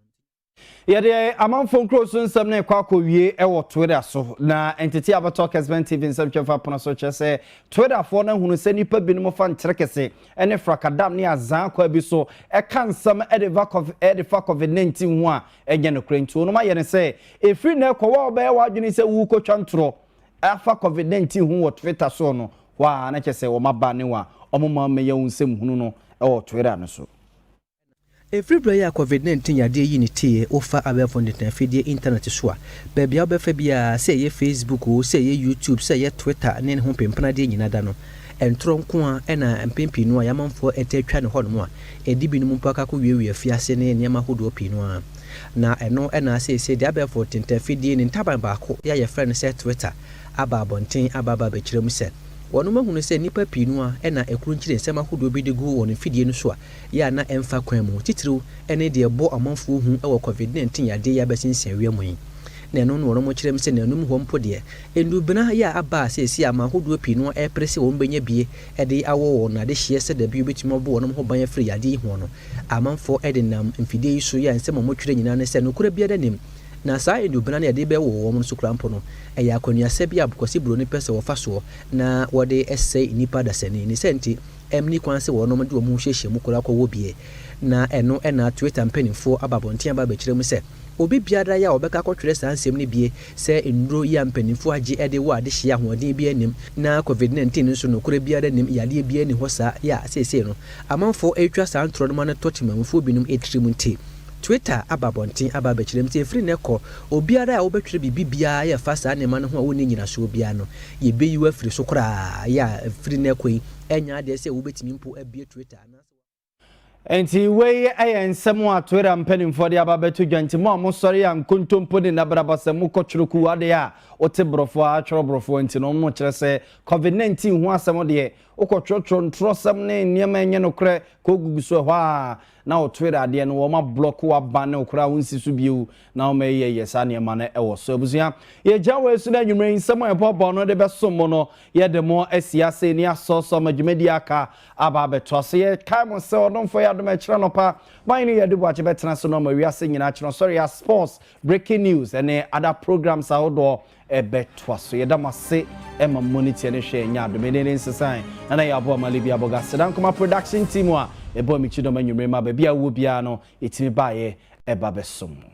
Yɛde amanfoɔ nkuro so nsɛm no rekɔ akɔwie wɔ Twitter so, na ntetee a abɛtɔ KSBN TV nsɛntwerɛfoɔ apono so kyerɛ sɛ Twitterfoɔ no ahunu sɛ nnipa binom fa nkyerɛkese ne frakadam ne azaa kwa bi so ka nsɛm de fa covid de fa covid nineteen ho a, ɛnyɛ nokorɛ. Nti wɔnom ayɛ no sɛ, ɛfiri nnɛ rekɔ, wo a wobɛyɛ w'adwene sɛ worekɔtwa ntorɔ afa covid nineteen ho wɔ Twitter soɔ no, hɔ ara na kyerɛ sɛ wɔaba ne wo a, wɔma mmɛyɛ wo nsɛmhunu no wɔ Twitter no so. Ɛfiri berɛ yi a Covid 19 yadeɛ yii ne teeɛ, wofa abɛɛfo ntɛntɛn afidie, intanɛt, so a, baabi a wobɛfa biara, sɛ ɛyɛ Facebook oo, sɛ ɛyɛ YouTube, sɛ ɛyɛ Twitter ne ne ho mpempenadeɛ nyinaa da no, ntorɔ nko ara na mpɛn pii no a yɛamanfoɔ taa twa no hɔnom a ɛde binom mpo akɔ akɔwiawia afiase ne nneɛma ahodoɔ pii no ara. Na ɛno na seesei deɛ abɛɛfo ntɛntɛn afidie ne ntaban baako a yɛfrɛ no sɛ Twitter aba abɔnten aba aba abɛkyerɛ mu sɛ wɔnom ahunu sɛ nnipa pii no ara na ɛkurunkyirennsɛm ahodoɔ bi de gu wɔn mfidie no so a yɛ a na ɛmfa kwan mu, titiriw ne deɛ ɛbɔ amanfoɔ hu wɔ Covid nineteen yadeɛ yi abɛsen nsianwia mu yi. Na ɛno na wɔnom kyerɛm sɛ nanom hɔ mpo deɛ, nnubena yɛ a aba a seesei aman ahodoɔ pii no ɛrepere sɛ wɔbɛnya bie de awɔ wɔn adehyeɛ sɛ dabi wɔbɛtumi abɔ wɔnom ho ban afiri yadeɛ yi ho no, amanfoɔ de nam mfidie yi so yɛ a nsɛm a wɔtwerɛ nyinaa ne sɛ nokorɛ biara nnim. Na saa nnubena no a yɛde bɛwɔ wɔnom no so koraa mpo no, ɛyɛ akwannuasɛm bi a abɔkwasiburo no pɛ sɛ wɔfa soɔ na wɔde sɛe nnipa dasani. Ne saa nti, Ɛnni kwan sɛ wɔnom de wɔn ho hyehyɛ mu koraa kɔwɔ bie, na ɛno na Twitter mpanimfoɔ aba abɔnten aba abɛkyerɛ mu sɛ, Obi biara a ɔbɛka akɔtwerɛ saa nsɛm no bie sɛ nnuro yi a mpanimfoɔ agye de wɔ adehyeɛ ahoɔden biara nnim, na Covid nineteen nso nokorɛ biara nnim, yadeɛ biara nni hɔ saa, yɛ a seesei no amanfoɔ retwa saa ntorɔ no ma no tɔ temammufoɔ binom tirim nti. Twitter aba abɔnten aba abɛkyerɛ mu sɛ ɛfiri nnɛ kɔ, obiara a wobɛtwerɛ biribi biara a ɛfa saa nneɛma no ho a wonni nnyinasoɔ biara no, yɛbɛyi wo afiri so koraa. Yɛ a ɛfiri nnɛ kɔ yi, ɛnyɛ adeɛ sɛ wobɛtumi mpo abue Twitter anaasɛ wɔn. Enti wei yɛ nsɛm a Twitter mpanimfoɔ de aba abɛto dwa. Enti mo a mosɔre yɛ nkontompo ne nnabraba sɛ mokɔ twerɛ kuo adeɛ a wote borɔfoɔ ara twerɛ borɔfoɔ nti no, mokyerɛ sɛ Covid 19 ho asɛm deɛ, wokɔtwerɛtwerɛ ntorɔsɛm ne nneɛma a ɛnyɛ nokorɛ kɔgugu so ɛhɔ ara. na wo Twitter adeɛ no wɔma blɔk w'aba ne wo koraa wo nsi so bio na wɔma yɛ yɛ saa nneɛma no ɛwɔ so abusua yɛgya wɔ asu no anwummerɛ yi nsɛm a ɛbɔbɔ no de bɛsom mo no yɛde mo asi ase ne asɔsɔ ma dwumadi aka aba abɛto ase yɛ kae mo sɛ ɔdomfoɔ yɛ adom ɛkyerɛ nɔpa ban ne yɛde boakye bɛtena so no ma wiase nyinaa kyerɛ sɔre a sports breaking news ɛne other programs ahodoɔ ɛbɛtoa so. Yɛda mo ase ma mo ani teɛ ne hwɛ ɛnyɛ adom. Ɛnɛ ne nsesae na na yɛ aboa ama Libya Aboga Sedan Nkrumah production team a ɛbɔ me kyidɔm anwummere ma baabi a wowɔ biara no ɛtumi baeɛ ɛba bɛsom mo.